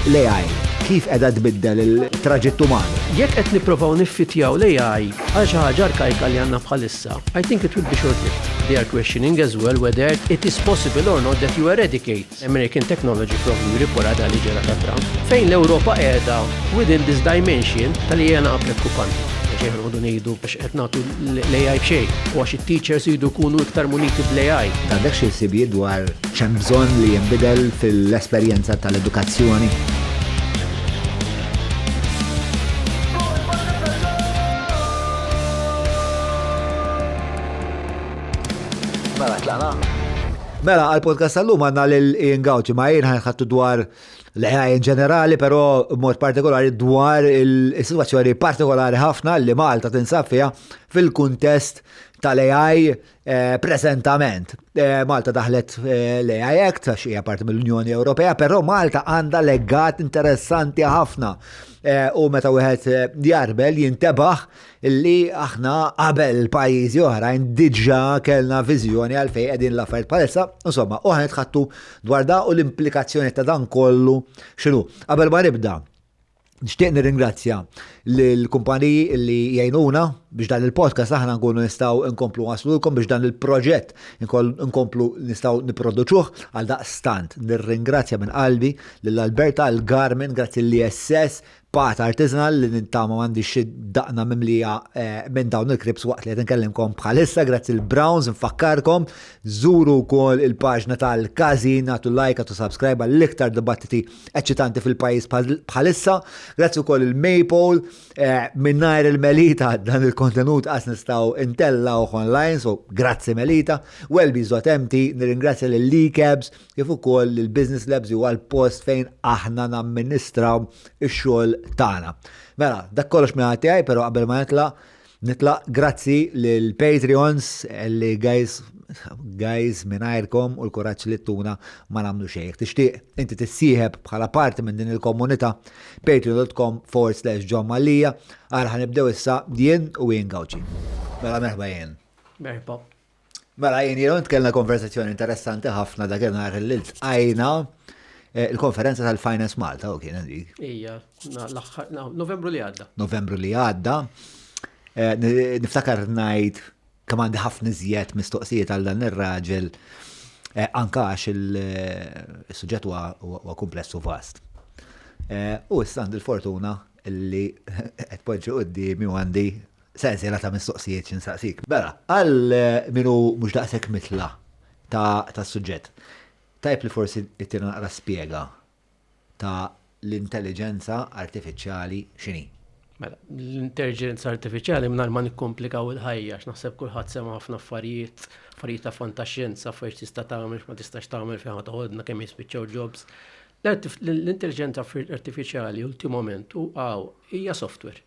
L-AI, kif qiegħda tbiddel il-traġitt uman? Jekk qed nipprovaw niffittjaw l-AI għal xi ħaġa arkajka li għandna bħalissa, I think it would be short-lived. They are questioning as well whether it is possible or not that you eradicate American technology from the riporad għal ġara ta' Trump. Fejn l-Ewropa qiegħda within this dimension tal-AI naqa' preokkupanti. Xejn ħanoqogħdu ngħidu biex qed nagħtu l-AI b'xejn, u għax it-teachers iridu jkunu iktar muniti bl-AI. Għandek xi ħsibijiet dwar x'hemm bżonn li jinbidel fil-esperjenza tal-edukazzjoni? Mela, għal-podcast tal-lum għanna l-Ian Gauci, ma jien ħanħattu dwar l-AI in ġenerali, però mod partikolari dwar il-situazzjoni partikolari ħafna li Malta tinsab fiha fil-kuntest tal-AI eh, prezentament. Eh, Malta daħlet eh, l-AI Act, għax hija parti mill-Unjoni Ewropea, però Malta għandha legat interessanti ħafna. U meta wieħed jarbel jintebaħ illi aħna qabel pajjiżi oħrajn diġà kellna viżjoni għal fejn qegħdin l-affarijiet bħalissa, insomma, u ħanet ħattu dwar da u l-implikazzjoni ta' dan kollu x'inhu. Qabel ma nibda, nixtieq nirringrazzja l-kumpaniji illi jgħinuna biex dan il-podcast aħna nkunu nistgħu nkomplu waslulkom biex dan il-proġett nkomplu nistgħu nipproduċuh għal daqstant. Nirringrazzja minn qalbi lill Alberta, l-Garmin, grazzi l-ISS, Patt artisanal li nittama m'għandix xi daqna mimlija minn dawn il-kribs waqt li qed inkellimkom bħalissa grazzi l-Browns infakkarkom żuru wkoll il-paġna tal-Każin agħtu like agħtu subscribe għall-iktar dibattiti eċċitanti fil-pajjiż bħalissa. Grazzi wkoll il-Maypole mingħajr il-Melita dan il-kontenut qas nistgħu ntellgħuh online so grazzi Melita. Welby's Dot Empty nirringrazzja lil Lee Cabs kif ukoll li l-Business Labs huwa l-post fejn aħna namministraw ix-xogħol tagħna. Mela, dak kollox minn ħadd tiegħi, però qabel ma nitla' nitla' grazzi lil Patreons li guys guys mingħajrkom u l-kuraġġ li tuna ma nagħmlu xejn. Jekk tixtieq inti tissieħeb bħala parti minn din il-komunità patreon.com forward slash John Mallia għal ħanibdew issa jien u jien Gawċi. Mela merħba jien. Merħba. Mela, jien jenu nitkellna konversazzjoni interessanti ħafna dak nhar li tqajna eh, il-konferenza tal-Finance Malta u kien dik. Ija, Novembru li għadda. Novembru li għadda. Eh, niftakar ngħid kemm għandi ħafna iżjed mistoqsijiet għal dan ir-raġel eh, anka għax il-suġġett huwa kumpless u vast. U issa għandi l-fortuna li qed poġġi quddiem għandi Sensiela ta' mistoqsijiet xi nsaqsik. Mela, għal min hu mhux daqshekk mitla' tas-suġġett, tajjeb li forsi ttina naqra spjega ta' l-intelliġenza artifiċjali x'inhi. Mela, l-intelliġenza artifiċjali mingħajr ma nikkomplikaw il-ħajja għax naħseb kulħadd sema' ħafna affarijiet, affarijiet ta' fantaxjenza, affarijiet x'tista' tagħmel, x'ma tistax tagħmel, fejn ħa toħodna, kemm jispiċċaw jobs. L-intelliġenza artifiċjali ultimament u hawn hija software.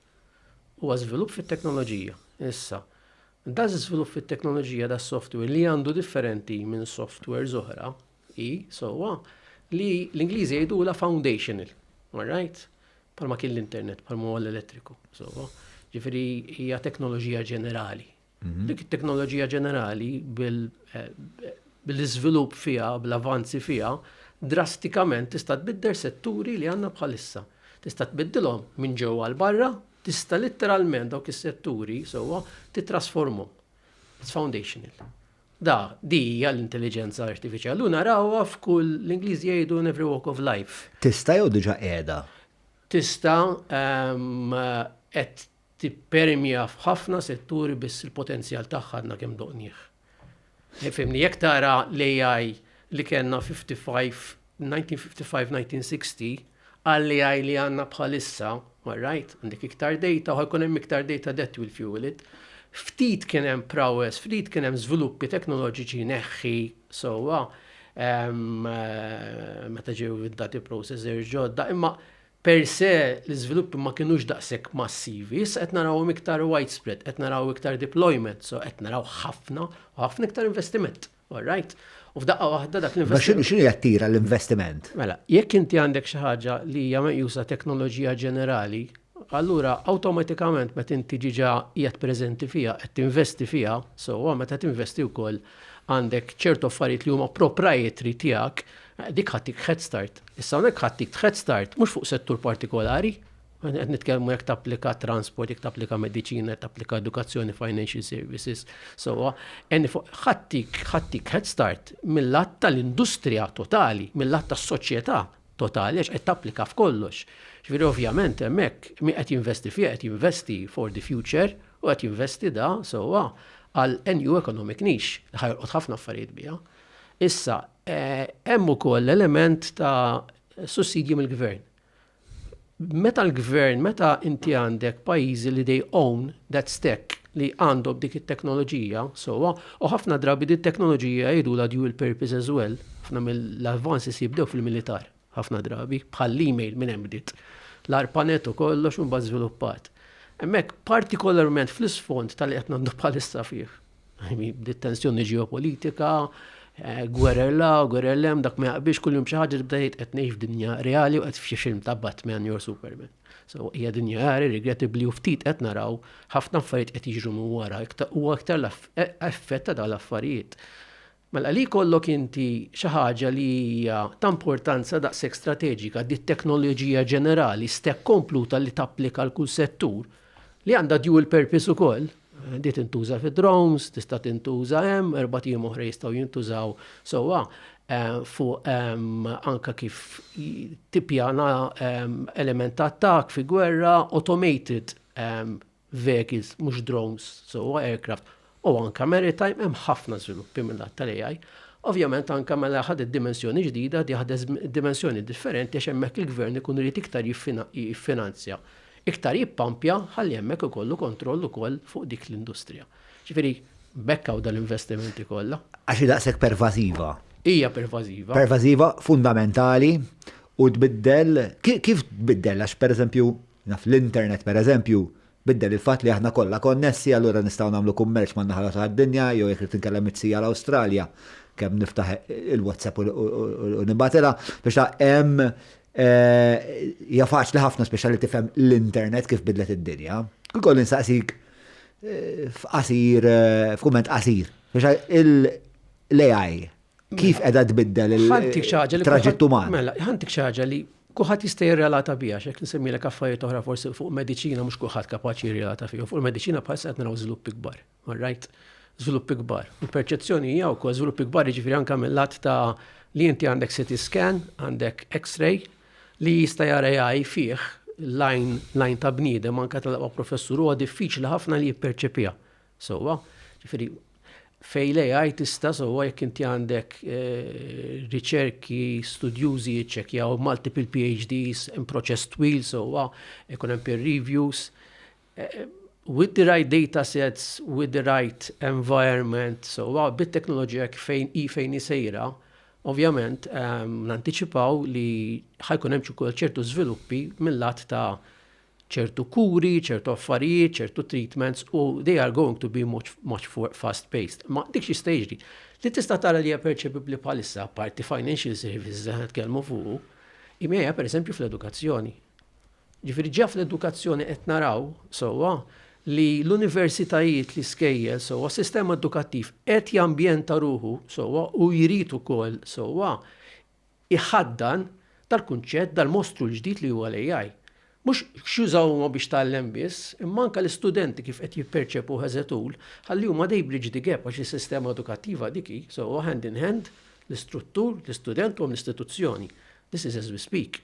Huwa żvilupp fit-teknoloġija. Issa, daż-żvilupp fit-teknoloġija das-software li għandu differenti minn softwares oħra hi sewwa li l-Ingliżi jgħidulha foundational. All right? Bħalma kien l-internet, bħalma huwa l-elettriku. Sewwa. Ġifieri hija teknoloġija ġenerali. Dik it-teknoloġija ġenerali bil-iżvilupp fiha, bl-avanzi fiha, drastikament tista' tbiddel setturi li għandna bħalissa. Tista' tbiddilhom minn ġewwa għal barra, tista' litteralment dawk is-setturi sewwa titrasformhom. It's foundational. Da, di hija l-intelliġenza artifiċjali u narawha f'kull l-Ingliżi jgħidu in every walk of life. Tista' jew diġà qiegħda? Tista' qed tippermja f'ħafna setturi biss il-potenzjal tagħha għadna kemm doqnieh. Fehimni, jekk tara l-AI li kellna 55, 1955, 1960, għall-AI li għandna bħalissa, all right, għandek iktar data, u jkun hemm iktar data that will fuel it. Ftit kien hemm prowess, ftit kien hemm żviluppi teknoloġiċi neħħi sewwa meta ġew id-dati processors ġodda, imma Per se, l-iżviluppi ma kinux daqshekk massivi, issa qed narawhom iktar widespread, qed naraw iktar deployment, so qed naraw ħafna u ħafna iktar investiment. All right? U f'daqqa waħda dak l-investiment. Ma x'inhi jattira l-investiment? Mela, jekk inti għandek xi ħaġa li hija meqjusa teknoloġija ġenerali, allura awtomatikament meta inti ġiġa qiegħed preżenti fiha, qed tinvesti fiha, sewwa meta tinvesti wkoll għandek ċertu affarijiet li huma proprietary tiegħek Dik ħattik head start. Issa hawnhekk ħattik head start mhux fuq settur partikolari, qed nitkellmu jekk tapplika transport, jekk tapplika mediċina, jekk tapplika edukazzjoni, financial services, so ħattik ħattik head start mill-att tal-industrija totali, mill-att tas-soċjetà totali għax qed tapplika f'kollox. Ġifieri ovvjament hemmhekk min qed jinvesti fih qed jinvesti for the future u qed jinvesti da sewwa għal new economic niche li ħajolqot ħafna affarijiet biha. Issa, Hemm ukoll element ta' sussidji mill-gvern. Meta l-gvern, meta inti għandek pajjiżi li they own that stack li għandhom dik it-teknoloġija sewwa, u ħafna drabi din it-teknoloġija jgħidulha dual purpose as well, ħafna mill-advances jibdew fil-militar. ħafna drabi, bħall-email minn hemm bdiet l-arpanet u kollox u mbagħad żviluppat. Hemmhekk partikolarment fl-isfond tal-li qed ngħaddu bħalissa fih. Bdiet tensjoni ġeopolitika, eh, gwerer la, gwerer lem, dak ma jaqbix kuljum xi ħaġa tibda jgħid qed ngħix f'dinja reali u qed f'xi film ta' Batman jew Superman. So hija dinja reali regrettabli u ftit qed naraw ħafna affarijiet qed jiġru minn wara, huwa aktar l-effett ta' dal-affarijiet. Mela li jkollok inti xi ħaġa li hija ta' importanza daqshekk strateġika, di t-teknoloġija ġenerali, stek kompluta li tapplika għal kull settur, li għandha dual purpose ukoll, di tintuża fid-drones, tista' tintuża hemm, erbat ijiem oħra jistgħu jintużaw sewwa fuq anke kif tippjana element ta' attakk fi gwerra, automated vehicles mhux drones, so huwa aircraft, u anke maritime hemm ħafna żviluppi mill-lat tal-AI. Ovvjament anke mela ħadet dimensjoni ġdida, di ħadet dimensjoni differenti għax hemmhekk il-gvern ikun irid iktar jiffinanzja, iktar jippampja ħalli hemmhekk ikollu kontroll ukoll fuq dik l-industrija. Ġifieri b'hekk hawn dal-investimenti kollha. Għax hi daqshekk pervażiva. Hija pervażiva. Pervażiva, fundamentali u tbiddel, kif tbiddel għax pereżempju, Naf l-internet, pereżempju, biddel il-fatt li aħna kollha konnessi, allura nistgħu nagħmlu kummerċ man-naħa l-oħra tad-dinja, jew jekk rrid inkellem it-sija l-Awstralja, kemm niftaħ il-WhatsApp u nibgħatilha. Biex taf, hemm hija faċli ħafna speċjal li tifhem l-internet kif bidlet id-dinja. Kiekolli nsaqsik f'qasir, f'kumment qasir, biex il-AI kif qiegħda tbiddel il-traġett uman. Mela, ħantik xaġa li kuħat jista' jirrelata biha xek nsemmilek affarijiet oħra forsi fuq mediċina mhux kuħat kapaċi jirrelata fihom. Fuq il-mediċina bħal qed naraw żvilupp ikbar. Right? Żvilupp ikbar. Il-perċezzjoni hija wkoll żvilupp ikbar jiġifieri anke mill-lat ta' li inti għandek CT scan, għandek X-ray li jista' jara jgħaj fih lajn lajn ta' bniedem anke tal-aqwa professur huwa diffiċli ħafna li jipperċepija. Sewwa, ġifieri fejn l-AI tista' sewwa jekk inti għandek riċerki, studjużi jiċċekkjaw multiple PhDs, hemm proċess twil sewwa, ikun hemm peer reviews. With the right data sets, with the right environment, sewwa bit-teknoloġija fejn hi fejn hi sejra, ovvjament nantiċipaw li ħa jkun hemm ukoll ċertu żviluppi mil-lat ta' ċertu kuri, ċertu affarijiet, ċertu treatments u they are going to be much, much fast paced. Ma dik xista jiġri. Li tista' tara li hija perċepibli bħalissa parti financial services li nitkellmu fuq, imejja per eżempju fl-edukazzjoni. Ġifieri ġa fl-edukazzjoni qed naraw sewwa li l-universitajiet li skejjel sewwa sistema edukattiv qed jambjenta ruħu sewwa u jrid ukoll sewwa iħaddan dal-kunċett dal-mostru l-ġdid li huwa l-AI. Mhux x'jużaw huma biex tgħallem biss, imma anke l-istudenti kif qed jipperċepuh as a tool, ħalli huma they bridge the gap għax is-sistema edukattiva dik hi, so huwa hand in hand, l-istruttur, l-istudent u hemm l-istituzzjoni. This is as we speak.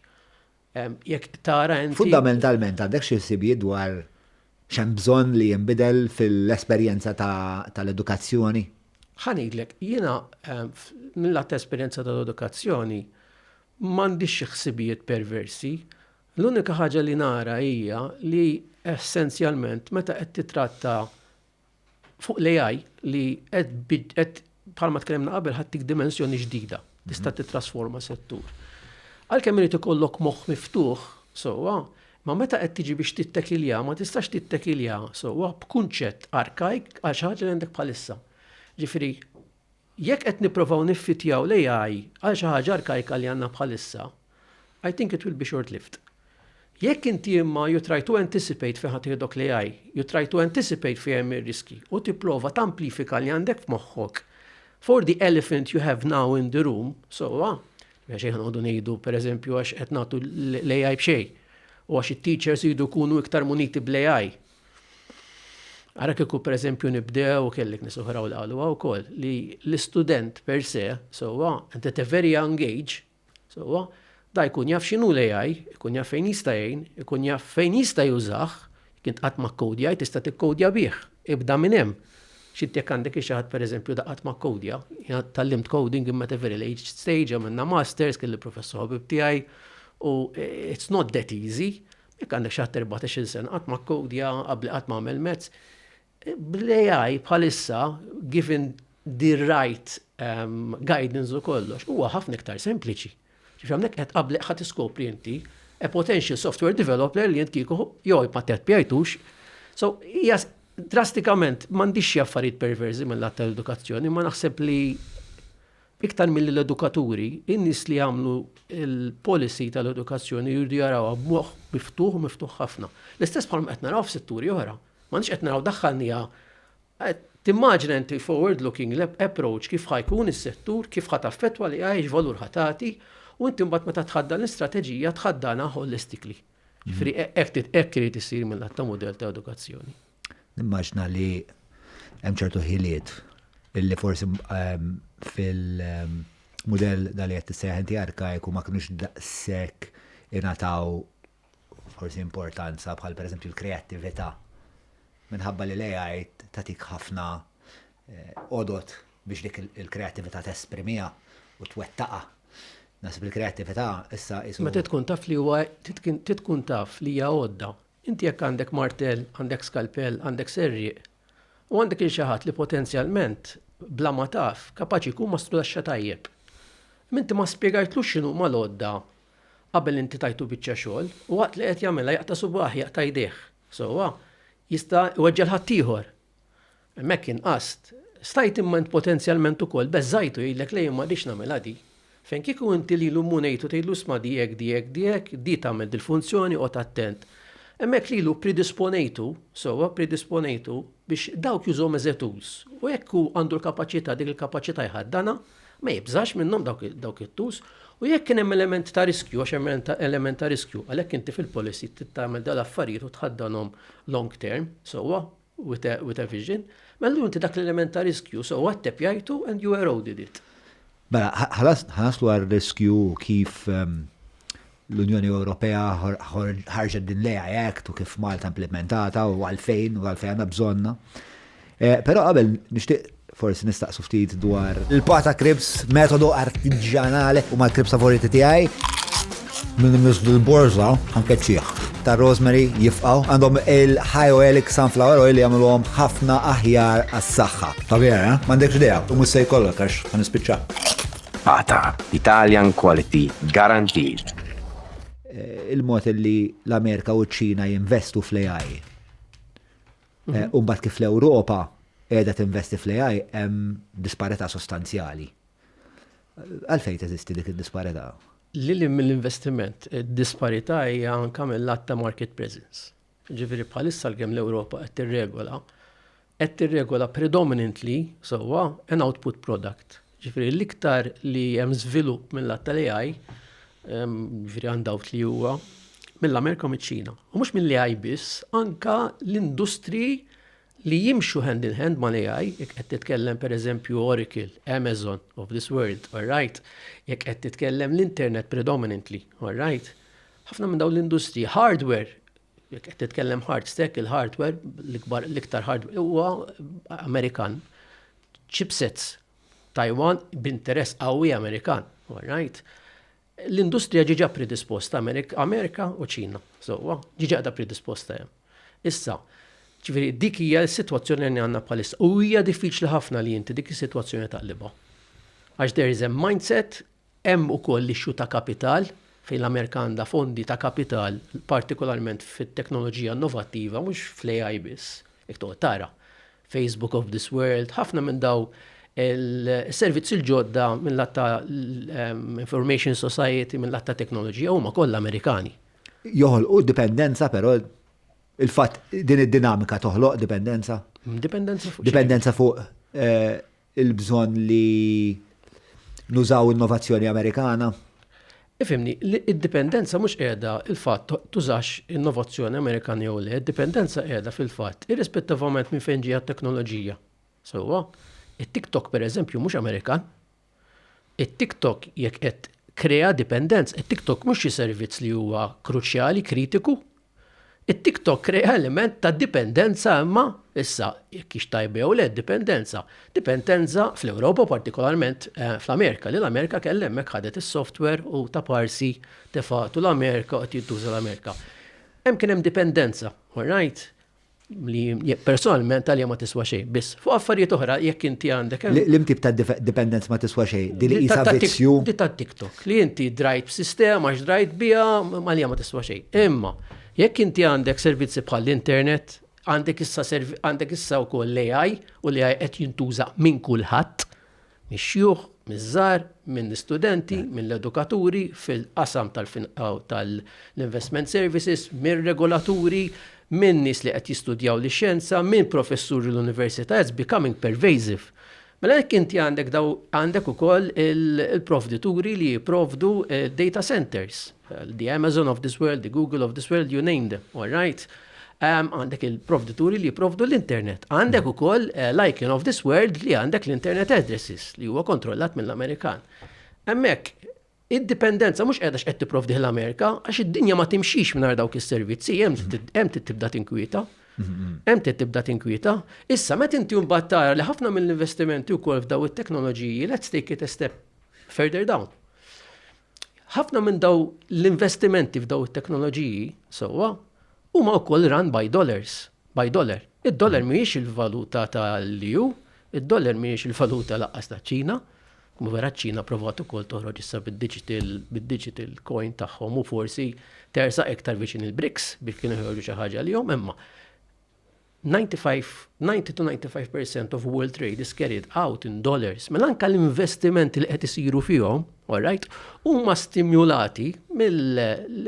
Jekk tara inti. Fundamentalment għandek xi ħsibijiet dwar x'hemm bżonn li jinbidel fil-esperjenza tal-edukazzjoni? Ħa ngħidlek, jiena mill-lat ta' esperjenza tal-edukazzjoni m'għandix xi ħsibijiet perversi. L-unika ħaġa li nara hija li essenzjalment meta qed titratta fuq l-AI li qed bħalma tkellimna qabel ħattik dimensjoni ġdida, tista' mhm. titrasforma settur. Għalkemm irid ikollok moħħ miftuħ, sewwa, ma meta qed tiġi biex tittekilja, ma tistax tittekilja sewwa b'kunċett arkajk għal xi ħaġa li għandek bħalissa. Ġifieri Jekk qed nipprovaw niffittjaw l-AI għal xi ħaġa arkajka li għandna bħalissa, I think it will be short lived. Jekk inti imma you try to anticipate fejn ħa tieħdok l-AI, you try to anticipate fejn hemm ir-riskji u tipprova tamplifika li għandek f'moħħok for the elephant you have now in the room, sewwa, mela xejn ħa noqogħdu ngħidu pereżempju għax qed nagħtu l-AI b'xejn u għax it-teachers iridu jkunu iktar muniti bl-AI, Ara kieku per eżempju nibdew, kellek nies oħra u l-qalu wkoll, li l-istudent per se, sewwa, and at a very young age, sewwa, da jkun jaf x'inhu l-AI, ikun jaf fejn jista' jgħin, ikun jaf fejn jista' jużah, jekk int qatt ma kkodjajt tista' tikkowdja bih, ibda minn hemm. X'int jekk għandek xi ħadd per eżempju da qatt ma kkowdja, jiena tgħallimt coding imma at a very late stage, għamilna masters, kelli professor ħabib tiegħi, u it's not that easy, Jekk għandek xi ħadd 14-il sena qatt ma kkowdja, qabbli qatt ma għamel mezz. Bl-AI bħalissa, given the right ehm, guidance u kollox, huwa ħafna iktar sempliċi. Ġifieri hawnhekk qed qabbli ħadd iskopri inti a potential software developer li jent kieku jew ma teppjajtux. So, hija drastikament m'għandix xi affarijiet perversi mill-att tal-edukazzjoni, ma naħseb li Iktar milli l-edukaturi, in-nies li jagħmlu l-policy tal-edukazzjoni jridu jarawha b'moħħ miftuħ u miftuħ ħafna. L-istess bħalma qed naraw f'setturi oħra. M'aħniex qed naraw daħħalniha Timmaġina inti forward looking approach kif ħa jkun is-settur, kif ħa taffettwa l-AI, x'valur ħa tagħti, u inti mbagħad meta tħaddan l-istrateġija tħaddanha holistically. Ġifieri hekk irid isir mil-lat ta' mudell ta' edukazzjoni. Nimmaġna li hemm ċertu ħiliet illi forsi ehm, fil-mudell ehm, dal qed tissejjaħ inti arkajku ma kinux daqshekk ingħataw forsi importanza bħal pereżempju l-kreattività. Minħabba li l-AI tatik ħafna eh, odot biex dik il-kreattività tesprimija u twettaqa. Nasib il-kreattività issa isu. Meta tkun taf li huwa tkun taf li hija għodda Inti jekk għandek martell, għandek skalpell, għandek serrieq, u għandek lil xi ħadd li potenzjalment, bla ma taf, kapaċi jkun ma studasxa tajjeb. Imma inti ma spjegajtlux x'inhuma l-għodda qabel inti tajtu biċċa xogħol, u waqt li qed jagħmilha jaqta' subgħah, jaqta' jdejh. Sewwa, jista' jweġġa' 'l ħaddieħor. Hemmhekk inqast. Stajt imma int potenzjalment ukoll beżżajtu jgħidlek le jien ma rridx nagħmilha di. Fejn kieku inti lilu mhu ngħid u tgħidlu isma' di hekk, di hekk, di hekk, di tagħmel dil-funzjoni qgħod attent. Hemmhekk lilu ppridisponejtu, sewwa, ppridisponejtu biex dawk jużhom as a tools. U jekk hu għandu l-kapaċità, dik il-kapaċità jħaddanha, Ma jibżax minnhom dawk it-tools u jekk kien hemm element ta' riskju għax hemm element ta' riskju, għalhekk inti fil-policy trid tagħmel dal-affarijiet u tħaddanhom long term sewwa with a vision, mela allura inti dak l-element ta' riskju sewwa ttepjajtu and you eroded it. Mela, ħa naslu għar-riskju u kif l-Unjoni Ewropea ħarġet din l-AI Act u kif Malta implimentatha u għalfejn u għalfejn għandna bżonnha. Però qabel nixtieq forsi nistaqsu ftit dwar. Il-pa ta' kribs, metodu artiġjanali, huma l-kribs favoriti tiegħi. Min imiss dil-borża ħa nkeċċih. Tar-rosemary jifqgħu. Għandhom il-high oleic sunflower oil li jagħmluhom ħafna aħjar għas-saħħa. Ta' vera, eh? M'għandekx idea. U mhux se jkollok għax ħa nispiċċa. Tqata', Italian Quality Guaranteed. Il-mod li l-Amerika u ċ-Ċina jinvestu fl-AI. Eh, Umbat kif l-Ewropa qiegħda tinvesti fl-AI hemm disparità sostanzjali. Għalfejn teżisti dik id-disparità? Lili mill-investiment, id-disparità hija anke mill-att ta' market presence. Jiġifieri bħalissa l-kemm l-Ewropa qed tirregola, qed tirregola predominantly sewwa an output product. Jiġifieri l-iktar li hemm żvilupp mill-att tal-AI, jiġifieri għandawt li huwa mill-Amerika u miċ-Ċina. U mhux mill-AI biss, anka l-industri li jimxu hand in hand mal-AI, jekk qed titkellem pereżempju Oracle, Amazon of this world, all right, jekk qed titkellem l-internet predominantly, all right, ħafna minn dawn l-industriji, hardware, jekk qed titkellem hard stack, il-hardware, l-ikbar, l-iktar hardware, huwa Amerikan, chipsets, Taiwan, b'interess qawwi Amerikan, all right. L-industrija ġiġa predisposta Amerika u Ċina, sewwa, ġiġa qiegħda predisposta hemm. Issa, ġifieri dik hija s-sitwazzjoni li għandna bħalissa. U hija diffiċli ħafna li inti dik is-sitwazzjoni taqlibha. Għax there is a mindset, hemm ukoll l-issue ta' kapital, fejn l-Amerika għandha fondi ta' kapital, partikolarment fit-teknoloġija innovattiva, mhux fl-AI biss, jekk toqgħod tara. Facebook of this world, ħafna minn daw il-servizzi l-ġodda minn lat ta' information society, minn lat ta' teknoloġija, huma kollha Amerikani. Joħol u dipendenza però il-fatt din id-dinamika toħloq dipendenza. Dipendenza fuq. Dipendenza fuq eh, il-bżonn li nużaw innovazzjoni Amerikana? Ifhimni, id-dipendenza mhux qiegħda il-fatt tużax innovazzjoni Amerikana jew le, id-dipendenza qiegħda fil-fatt irrispettivament minn fejn ġejja t-teknoloġija. Sewwa, it-TikTok pereżempju mhux Amerikan. It-TikTok jekk qed krea dipendenza, it-TikTok mhux xi servizz li huwa kruċjali, kritiku, It-TikTok krea element ta' dipendenza imma, issa, jekk hix tajba jew le d-dipendenza, dipendenza fl-Ewropa u partikolarment fl-Amerika li l-Amerika kellha hemmhekk ħadet is-software u taparsi tefgħetu l-Amerika u qed jintuża l-Amerika. Hemm kien hemm dipendenza, orajt? li personalment għalija ma tiswa xejn, biss fuq affarijiet oħra jekk inti għandek. Lim tip ta' dependence ma tiswa xejn, din li ta' vizzju. Di ta' TikTok, li inti drajt b'sistema, għax drajt bija, għalija ma tiswa xejn. Imma, jekk inti għandek servizzi bħall-internet, għandek issa għandek issa wkoll l-AI u l-AI qed jintuża minn kulħadd. mix-xjuħ, miż-żgħar, mill-istudenti, mill-edukaturi fil-qasam tal-finanzjament tal-investment services, mir-regolaturi, minn nies li qed jistudjaw lix-xjenza, minn professuri l-università, it's becoming pervasive. Mela jekk inti għandek dawn għandek ukoll il-provdituri li jipprovdu d-data centers. The Amazon of this world, the Google of this world, you name them, all right? Għandek il-provdituri li jiprovdu l-internet. Għandek u koll eh, l-icon of this world li għandek l-internet addresses li huwa kontrollat mill-Amerikan. Emmek, id-dipendenza mhux qiegħda x'qed tipprovdi l-Amerika għax id-dinja ma timxix mingħajr dawk is-servizzi hemm tibda tinkwieta. Hemm tibda tinkwieta. Issa meta inti mbagħad tara li ħafna mill-investimenti wkoll f'daw it-teknoloġiji let's take it a step further down. Ħafna minn daw l-investimenti f'daw it-teknoloġiji sewwa huma wkoll run by dollars, by dollar. Id-dollar mm. mhijiex il-valuta tal-EU, id-dollar mhijiex il-valuta laqqas ta' ċina Mu vera ċina provat ukoll toħroġ issa bid-digital bid-digital coin tagħhom u forsi tersa iktar viċin il-BRICS biex kienu joħorġu xi ħaġa li jom imma 95, 90 to 95 percent of world trade is carried out in dollars. Mela anka l-investimenti li qed isiru fihom, all right, huma stimulati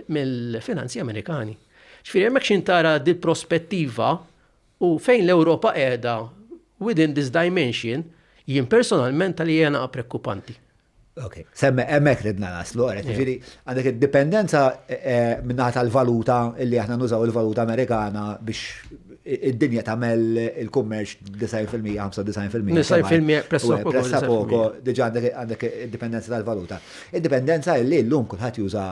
mill-finanzi Amerikani. Ġifieri hemmhekk xi tara di prospettiva u fejn l-Ewropa qiegħda within this dimension jien personalment tal hija naqa' prekkupanti. Ok, semme emmek ridna naslu, għaret, ġiri, għandek id-dipendenza eh, eh, minnaħat tal-valuta illi aħna nużaw il-valuta Amerikana biex id-dinja tamel il-kummerċ 90%, 95%. 90% pressa poco. Pressa poco, diġa għandek id-dipendenza tal-valuta. Id-dipendenza illi l-lum kullħat juża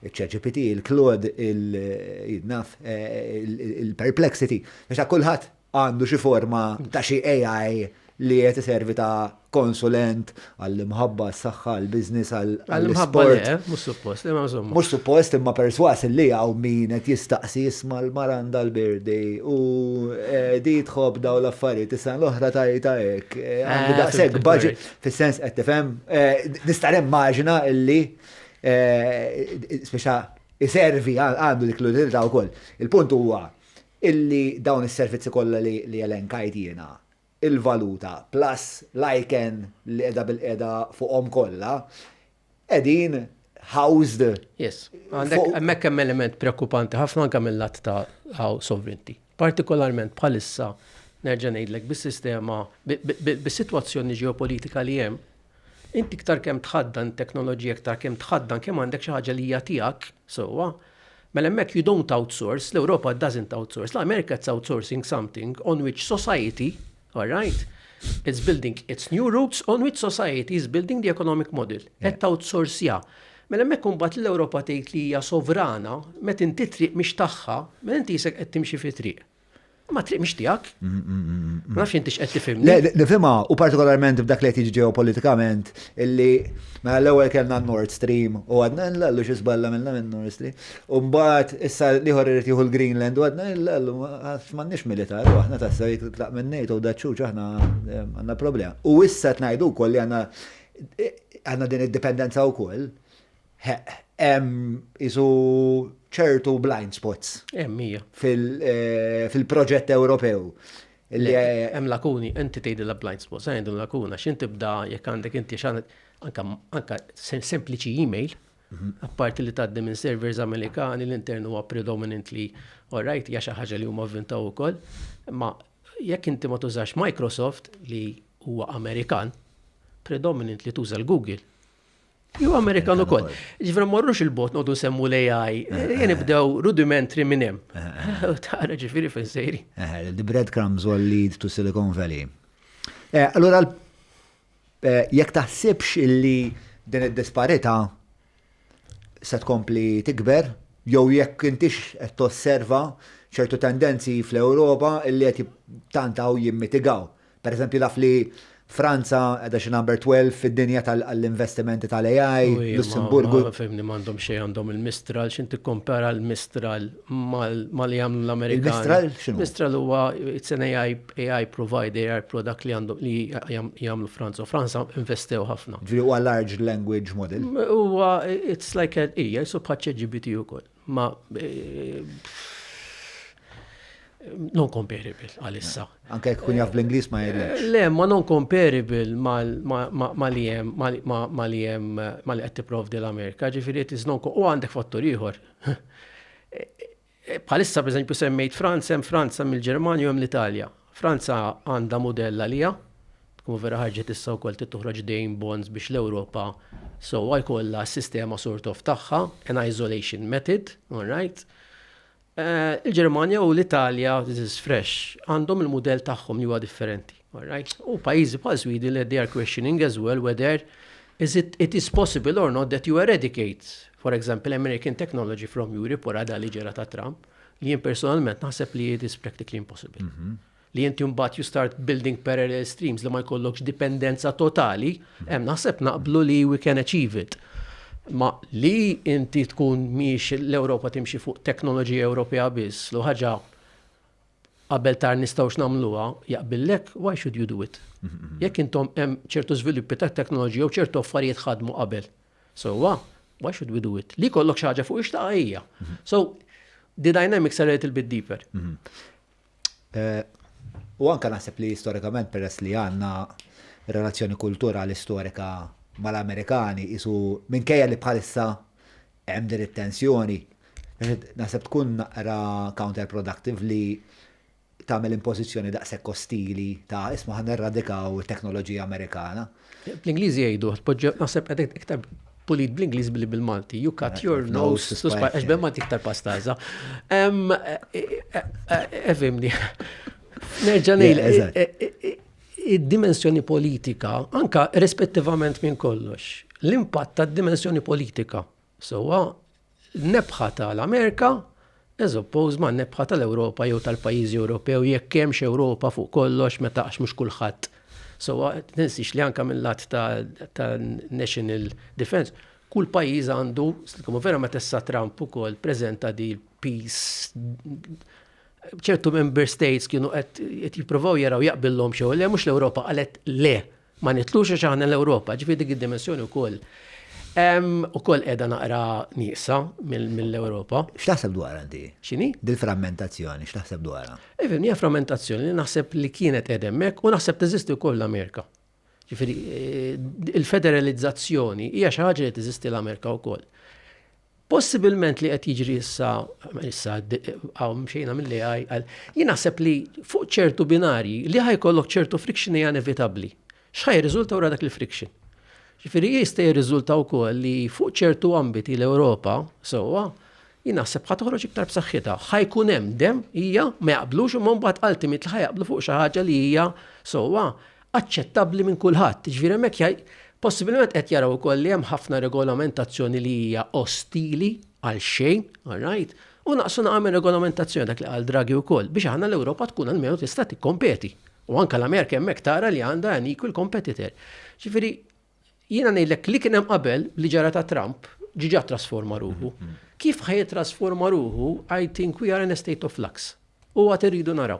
il-ċerġipiti, il-klod, il-naf, eh, il-perplexity, biex kullħat għandu xi forma ta' xi AI li qed iservi ta' konsulent għall-imħabba, għas-saħħa, għall-business, għall-isport. Mhux suppost, imma insomma. Mhux suppost imma perswas li hawn min qed jistaqsi jisma' l-Maranda l-Birdi u eh, di tħobb daw l-affarijiet is-sena l-oħra tajta hekk. Eh, għandi eh, daqshekk baġi fis-sens qed tifhem. Nista' nimmaġina illi speċa iservi għandu dik l-utilità wkoll. Il-punt huwa illi dawn is-servizzi kollha li elenkajt jiena, il-valuta plus l-ICANN li qiegħda bilqiegħda fuqhom kollha, qegħdin housed. Yes. Hemmhekk hemm element preokkupanti ħafna anke mil-lat ta' how sovereignty. Partikolarment bħalissa nerġa' ngħidlek bis-sistema bis-sitwazzjoni ġeopolitika li hemm, Inti iktar kemm tħaddan it-teknoloġija iktar kemm tħaddan kemm għandek xi ħaġa li hija tiegħek sewwa. Mela hemmhekk you don't outsource, l-Ewropa doesn't outsource, l-Amerika it's outsourcing something on which society, all right, it's building its new roots on which society is building the economic model. Qed outsourcea. Mela hemmhekk imbagħad l-Ewropa tgħid li hija sovrana, meta inti triq mhix tagħha, mela inti jisek qed timxi fi triq. Ma triq mhix tiegħek. Mm, mm, mm, ma nafx intix qed tifhimni. Le, nifhimha u partikolarment f'dak li qed jiġi ġeopolitikament illi mela l-ewwel kellna Nord Stream u għadna l-għallu xi żballa minna minn Nord Stream. U mbagħad issa liħor irid jieħu l-Greenland u għadna l-għallu m'għandniex militar u aħna tassew jekk tlaq minn NATO u daċċuċ aħna eh, għandna problema. U issa tnajdu wkoll li għandna eh, għandna din id-dipendenza wkoll Hemm qisu ċertu blind spots. Hemm hija. Fil-proġett Ewropew. Hemm lakuni, inti tgħidilha blind spots, għandhom lakuna, x'in tibda jekk għandek inti x'għandek anka sempliċi email, mhm. apparti li tgħaddi minn servers Amerikani l-intern huwa predominantly alright, hija xi ħaġa li huma vvintaw ukoll, ma jekk inti ma tużax Microsoft li huwa Amerikan, predominant li tuża l-Google. Ju Amerikan u koll. Ġifra morrux il-bot nodu semmu l-AI, jeni bdew rudimentri minnem. Tara ġifiri fin sejri. The breadcrumbs will lead to Silicon Valley. Eh, allora, eh, jek taħsibx illi din id-disparita se tkompli tikber, jew jekk intix qed tosserva ċertu tendenzi fl-Ewropa illi qed tantgħu jimmitigaw. Pereżempju naf li Franza qiegħda xi number 12 fid-dinja tal-investimenti tal-AI, Lussemburgu. Ma fehmni m'għandhom xejn għandhom il-Mistral, x'int tikkompara l-Mistral ma li jagħmlu l-Amerikani. Il-Mistral x'inhu? Mistral huwa it's an AI AI provider, AI product li għandhom li jagħmlu Franza. Franza investew ħafna. Ġifieri huwa large language model. Huwa it's like a hija jisu bħal ChatGPT ukoll. ma eh, non comparable għalissa. Eh, anke jekk kun jaf bl-Inglis ma jgħidx. Eh, le, ma non comparable ma li jem, ma li jem, ma li qed tipprovdi l-Amerika, ġifieri qed iżnon u għandek fattur ieħor. Bħalissa pereżempju semmejt Franza, hemm Franza mill-Ġermanja u hemm l-Italja. Franza għandha mudell għaliha. Tkun vera ħarġet issa wkoll trid toħroġ dejn bonds biex l-Ewropa sewwa jkollha s-sistema sort of tagħha, an isolation method, all right. Il-Ġermanja u l-Italja, this is fresh, għandhom il-mudell tagħhom li huwa differenti, all right. U pajjiżi bħal Sweden li they are questioning as well whether is it, it is possible or not that you eradicate, for example, American technology from Europe wara da li ġera ta' Trump. li jien personalment naħseb li it is practically impossible. Mhm. Li inti mbagħad you start building parallel streams li ma jkollokx dipendenza totali, mhm. hemm naħseb naqblu li we can achieve it. Ma li inti tkun miex l-Ewropa timxi fuq teknoloġija Ewropea biss, lu ħaġa qabel tar nistgħux nagħmluha jaqbillek, why should you do it? Mhm, Jekk intom hemm ċertu żviluppi ta' teknoloġija u ċertu affarijiet ħadmu qabel. So, why should we do it? Li kollok xaġa fuq ixtaqa hija. So, the dynamics are a little bit deeper. Mhm. Eh, u anka naħseb li storikament peress li għanna relazzjoni kulturali storika mal-Amerikani isu minkejja li bħalissa hemm din it-tensjoni. Naħseb tkun naqra counterproductive li tagħmel impożizzjoni daqshekk ostili ta' isma' ħa nirradikaw it-teknoloġija Amerikana. Bl-Ingliż jgħidu, tpoġġew naħseb qed iktar pulit bl-Ingliż billi bil-Malti. You cut your nose to spite. Għax bil-Malti iktar pastaza. Efimni. Eh, eh, eh, Nerġa' ngħid id-dimensjoni politika, anka rispettivament minn kollox, l-impatt tad-dimensjoni politika. Sowa l-nebħa ta' l-Amerika as opposed ma' nebħa ta' l-Ewropa jew tal-pajjiżi Ewropew jekk hemmx Ewropa fuq kollox meta għax mhux kulħadd. So tinsiex li anke mill-lat ta' national defense kull pajjiż għandu slikom vera meta issa Trump ukoll preżenta di peace ċertu member states kienu qed jippruvaw jaraw jaqbillhom xew le mhux l-Ewropa qalet le Ma nitlux għax aħna l-Ewropa, ġifieri dik id-dimensjoni wkoll ukoll qiegħda naqra nieqsa mill-Ewropa. X'taħseb dwar għandi? X'inhi? Dil-frammentazzjoni, x'taħseb dwarha? Ifhem, hija frammentazzjoni li naħseb li kienet qed hemmhekk u naħseb teżisti wkoll l-Amerika. Ġifieri eh, il-federalizzazzjoni hija xi ħaġa li teżisti l-Amerika wkoll. Possibilment li qed jiġri issa, issa għaw mxejna mill-AI, jien naħseb li fuq ċertu binarji li ħajkollok ċertu friction hija inevitabbli. X'ħaj riżulta wara dak il-friction? Ġifieri jista' jirriżulta wkoll li fuq ċertu ambiti l-Ewropa sewwa jien naħseb ħa toħroġ iktar b'saħħitha. Ħajkun hemm dem hija ma jaqblux imma mbagħad ultimate li ħajaqblu fuq xi ħaġa li hija sewwa aċċettabbli minn kulħadd. Jiġifieri hemmhekk jgħid, possibilment qed jaraw ukoll li hemm ħafna regolamentazzjoni li hija ostili għal xejn, all right, u naqsu naqra minn regolamentazzjoni dak li qal Draghi wkoll biex aħna l-Ewropa tkun almenu tista' tikkompeti. U anke l-Amerika hemmhekk tara li għandha an equal competitor. Ġifieri jiena ngħidlek li kien hemm qabel li ġara ta' Trump ġiġa trasforma ruħu. Mhm. Kif ħaj trasforma ruħu, I think we are in a state of flux. U għat irridu naraw.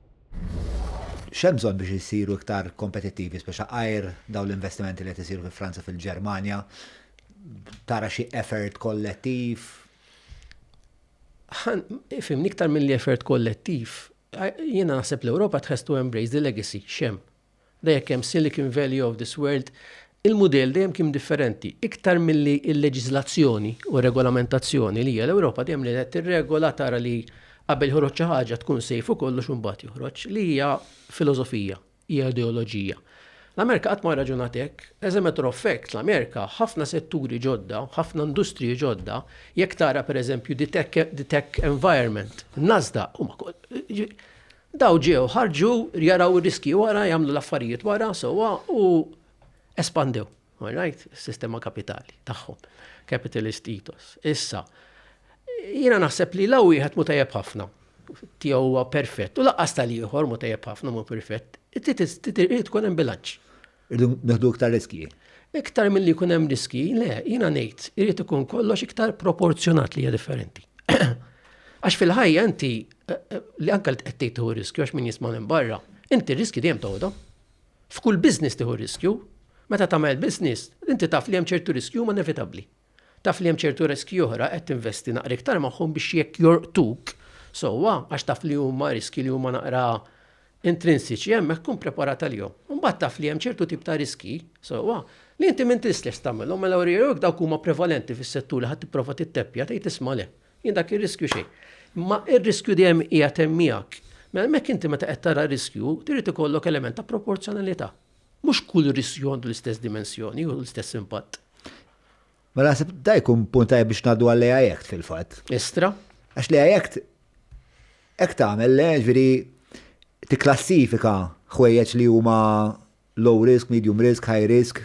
X'hemm bżonn biex isiru iktar kompetittivi speċa għajr dawn l-investimenti li qed isiru fi Franza fil-Ġermanja? Tara xi effort kollettiv? Ħan, fimni iktar mill-effort kollettiv, jiena naħseb l-Ewropa tħestu embrace the legacy, xem. Da jekk hemm Silicon Valley of this world, il-mudell dejjem kien differenti. Iktar milli l-leġiżlazzjoni u r-regolamentazzjoni li hija l-Ewropa dejjem li qed tirregola tara li qabel joħroġ xi ħaġa tkun safe u kollox u mbagħad joħroġ, li hija filosofija, hija ideoloġija. L-Amerika qatt ma rraġunat hekk. As a matter of fact, l-Amerika ħafna setturi ġodda, ħafna industriji ġodda, jekk tara pereżempju the tech environment, Nasdaq, huma Daw ġew, ħarġu, jaraw ir-riskji wara, jagħmlu l-affarijiet wara sewwa u espandew, all right, is-sistema kapitali tagħhom, capitalist ethos. Issa, jiena naħseb li law wieħed mu tajjeb ħafna tiegħu huwa perfett u laqqas tal-ieħor mu tajjeb ħafna mu perfett, trid tkun hemm bilanċ. Irridu neħdu iktar riskji. Iktar milli jkun hemm riskji, le, jiena ngħid, irid ikun kollox iktar proporzjonat li hija differenti. Għax fil-ħajja inti eh, eh, li anke li qed tieħu riskju għax min jisma' minn barra, inti riskju dejjem toħodhom. F'kull business tieħu riskju, meta tagħmel business, inti taf li hemm ċertu riskju ma nevitabbli. Taf li hemm ċertu riskji oħra qed tinvesti naqra iktar magħhom biex jekk jorqtuk sewwa għax taf li huma riskji li huma naqra intrinsiċi hemmhekk tkun preparat għalihom. Imbagħad taf li hemm ċertu tip ta' riskji sewwa li inti m'inti stess tagħmilhom mela jekk dawk huma prevalenti fis-settur li ħadd tipprova titteppja tgħid isma' le, jien dak ir-riskju xejn. Imma r-riskju dejjem qiegħed hemm miegħek. Mela hemmhekk inti meta qed tara riskju trid ikollok element ta' proporzjonalità. Mhux kull riskju għandu l-istess dimensjoni u l-istess impatt. Ma naħseb da jkun punt tajjeb biex ngħaddu għall-AI Act fil-fatt. Estra. Għax l-AI Act hekk tagħmel le ġifieri tikklassifika ħwejjeġ li huma low risk, medium risk, high risk,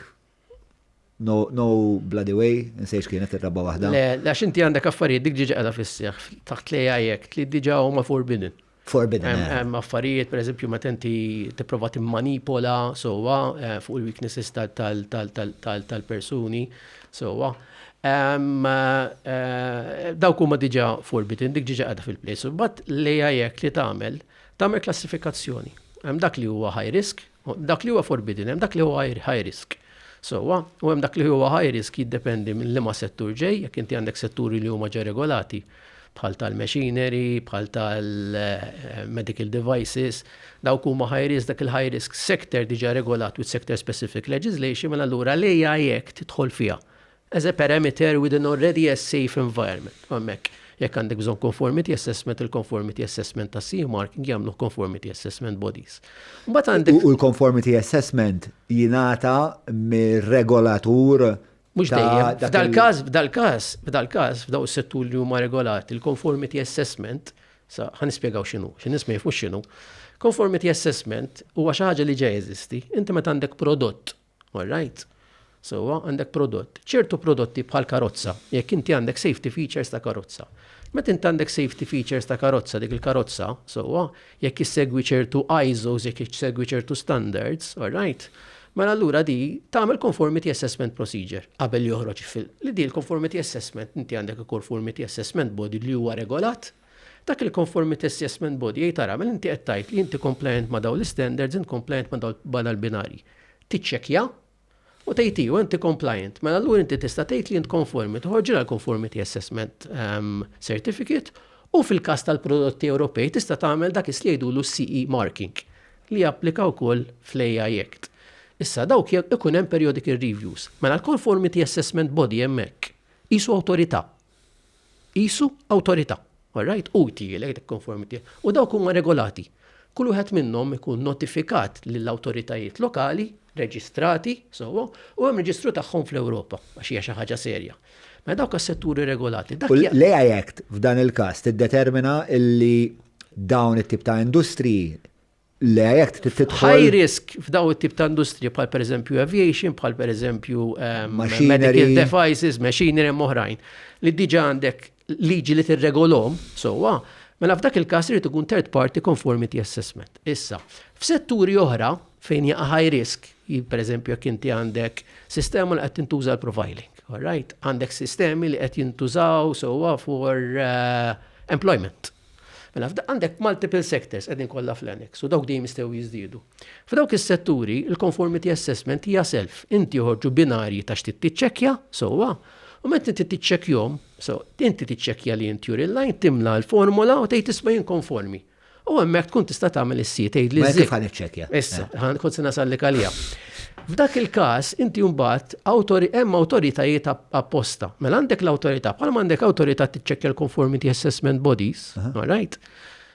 No, no bloody way, nsejx kienet ir-raba waħda. Le, għax inti għandek affarijiet dik ġiġa għada fisseħ taħt li għajek, li diġa huma forbidden. Forbidden. Eh. Hemm affarijiet, per eżempju, meta inti tipprova timmanipola sowa eh, fuq il-weaknesses tal-persuni sowa. Eh, dawk huma diġa forbidden, dik ġiġa għada fil-place. Bat li għajek li tagħmel, tagħmel klassifikazzjoni. Hemm dak li huwa high risk, Dak li huwa forbidden hemm dak li huwa high risk. Sewwa, u hemm dak li huwa high risk jiddependi minn liema settur ġej, jekk inti għandek setturi li huma ġa regolati bħal tal-machinery, bħal tal-medical devices, dawk huma high risk, dak il-high risk sector diġa regolat with sector specific legislation, mela allura l-AI Act tidħol fiha. as a parameter within already as safe environment. U hemmhekk jekk għandek bżonn conformity assessment, il-conformity assessment ta' CE marking jagħmluh conformity assessment bodies. Mbagħad għandek. U l-conformity assessment jingħata mir-regolatur Mux dejjem, f'dal-każ, f'dal-każ, f'dal-każ, f'daw is-settur li huma regolati, il-conformity assessment, sa ħan nispjegaw x'inhu, x'in nisma' jifux x'inhu. Conformity assessment huwa xi ħaġa li ġej eżisti. Inti meta għandek prodott All right. Sewwa, għandek prodott. Ċertu prodotti bħal karozza, jekk inti għandek safety features ta' karozza. Meta inti għandek safety features ta' karozza, dik il-karozza, sewwa, jekk issegwi ċertu ISOs, jekk issegwi ċertu standards, all right, mela allura di tagħmel conformity assessment procedure qabel joħroġ fil. Li di l-conformity assessment inti għandek il-conformity assessment body li huwa regolat Dak il-Conformity Assessment Body jgħid ara, mela inti qed tgħid li inti compliant ma' dawn l-istandards, int compliant ma' dawn ma' dal-binarji. Tiċċekkja u tgħid iva inti compliant, mela allura inti tista' tgħid li int konformi, toħorġilha l-Conformity Assessment Certificate u fil-każ tal-prodotti Ewropej tista' tagħmel dak is li jgħidulu CE marking li japplika wkoll fl-AI Act. Issa dawk ikun hemm periodic reviews. Mela l-Conformity Assessment Body hemmhekk qisu awtorità Qisu awtorità, all right, hu jtiegħlek dik konformità u dawk huma regolati. Kull wieħed minnhom ikun notifikat lill-awtoritajiet lokali, reġistrati sewwa u hemm reġistru tagħhom fl-Ewropa għax hija xi ħaġa serja. Mela dawk għas-setturi regolati. Dak jgħid. L-AI Act f'dan il-każ tiddetermina li dawn it-tip ta' industriji Le, jek tidħol. High risk f'daw it-tip ta' industrija bħal per eżempju aviation, bħal per eżempju ehm, medical devices, machinery moħrajn, li diġa għandek liġi li tirregolom, sowa, mela f'dak il-kas irid ikun third party conformity assessment. Issa, f'setturi oħra fejn jaqa' high risk, per eżempju jekk inti għandek sistema li qed tintuża l-profiling, all right? Għandek sistemi li qed jintużaw sowa for uh, employment Mela f'da għandek multiple sectors qegħdin kollha fl-annex u dawk dejjem jistgħu jiżdiedu. F'dawk is-setturi, il-conformity assessment hija self. Inti joħorġu binarji ta' x'tit tiċċekkja, sewwa, u meta inti tiċċekkjhom, so inti tiċċekkja li inti juri l-lajn timla l-formola u tgħid isma' jien konformi. U hemmhekk tkun tista' tagħmel is-si tgħid li Mela kif ħan iċċekkja? Issa, ħan kont se nasallik għalija. F'dak il-każ, inti mbagħad hemm awtoritajiet apposta. Mela għandek l-awtorità, bħalma għandek awtorità tiċċekkja l-conformity assessment bodies, all right?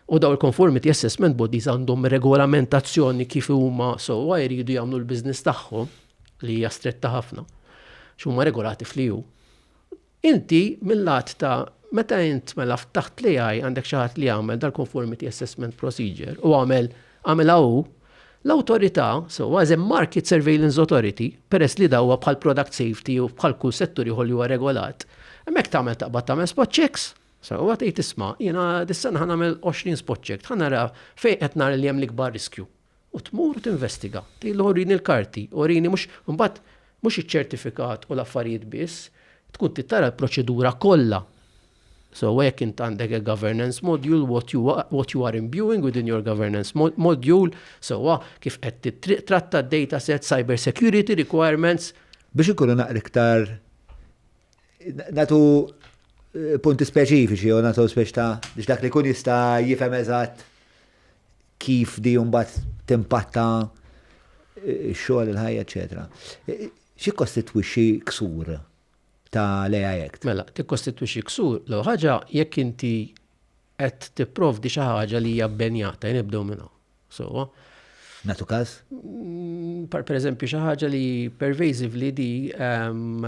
U daw il-conformity assessment bodies għandhom regolamentazzjoni kif huma sewwa jridu jagħmlu l-business tagħhom li hija stretta ħafna. X'huma regolati fl-EU. Inti mil-lat ta' meta int mela ftaħt l-AI għandek xi ħadd li għamel dal-conformity assessment procedure u għamel għamilha hu, l-awtorità, so as a market surveillance authority, peress li da huwa bħal product safety u bħal kull settur ieħor li huwa regolat, hemmhekk tagħmel taqbad tagħmel spot checks, sewwa tgħid isma' jiena dis-sena ħa nagħmel 20 spot check, ħa nara fejn qed nara li hemm l-ikbar riskju. U tmur u tinvestiga. Tgħidlu urini l-karti, urini mhux, imbagħad mhux iċ-ċertifikat u l-affarijiet biss, tkun trid tara l-proċedura kollha sewwa jekk int għandek il-governance module, what you, what you are imbuing within your governance module, sewwa kif qed tittratta d-data set, cyber security requirements. Biex inkunu naqra iktar nagħtu punti speċifiċi jew nagħtu speċ ta' biex dak li jkun jista' jifhem eżatt kif di mbagħad timpatta x-xogħol il-ħajja eċetera. Xi kostitwixxi ksur ta' l-AI Act? Mela, tikkostitwixxi ksur l ħaġa jekk inti qed tipprovdi xi ħaġa li hija bbenjata, jien nibdew minn hawn. Sewwa? Natu każ? Mm, per eżempju, xi ħaġa li pervasively di ehm,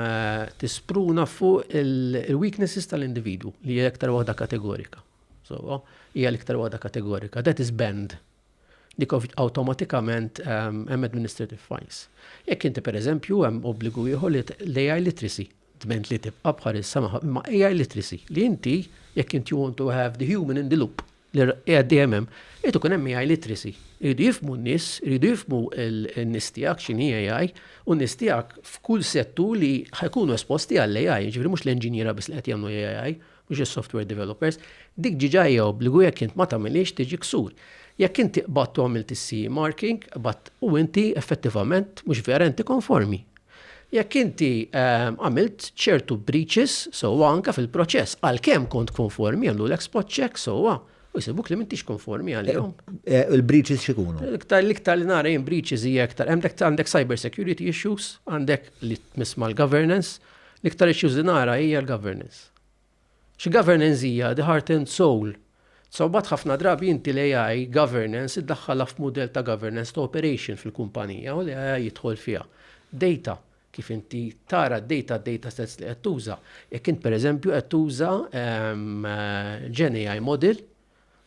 tispruna fuq il-weaknesses tal-individu li hija aktar waħda kategorika. Sewwa, hija l-iktar waħda kategorika. That is banned. Dik awtomatikament ehm, hemm administrative fines. Jekk inti pereżempju hemm obbligu ieħor li AI literacy dment li tibqa' bħalissa ma' AI literacy li inti jekk inti want to have the human in the loop li qiegħed dejjem hemm, qed ikun hemm AI literacy. Iridu jifmu n-nies, iridu jifmu n-nies tiegħek x'inhi AI u n-nies tiegħek f'kull settu li ħajkunu esposti għall-AI, ġifieri mhux l-enġinjera biss li qed jagħmlu AI, mhux is-software developers, dik diġà hija obbligu jekk int ma tagħmilhiex tiġi ksur. Jekk inti qbadt u għamilt is-CE marking, qbadt u inti effettivament mhux vera inti konformi. Jekk inti għamilt ċertu breaches sewwa anke fil-proċess għalkemm kont konformi jagħmlulek spot check sewwa u jsibuk li m'intix konformi għalihom. Il-breaches x'ikunu? Iktar l-iktar li nara jien breaches hija iktar għandek għandek cyber security issues, għandek li tmiss mal-governance, L-iktar issues li nara hija l-governance. X'governance hija the heart and soul? So mbagħad ħafna drabi inti l-AI governance iddaħħalha f'mudell ta' governance ta' operation fil-kumpanija u l-AI jidħol fiha. Data, kif inti tara d-data, d-data sets li qed tuża. Jekk int pereżempju qed tuża GenAI model,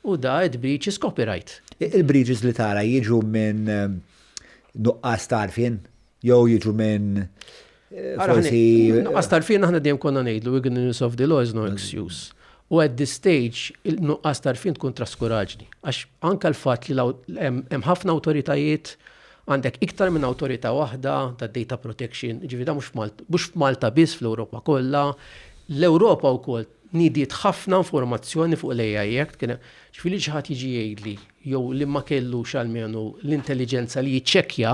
U da it breaches copyright. Il breaches li tara jiġu minn nuqqas ta' għarfien jew jiġu minn forsi. Nuqqas ta' għarfien aħna dejjem konna ngħidlu ignorance of the law is no excuse. U at this stage il-nuqqas ta' għarfien tkun traskuraġni. Għax anke l-fatt li hemm ħafna awtoritajiet għandek iktar minn awtorità waħda ta' data protection, ġifieri da mhux f'Malta biss fl-Ewropa kollha. L-Ewropa wkoll Nidiet ħafna informazzjoni fuq l-AI Act, kien hemm, ġifieri li xi ħadd jiġi jgħidli jew li ma kellux almenu l-intelliġenza li jiċċekkja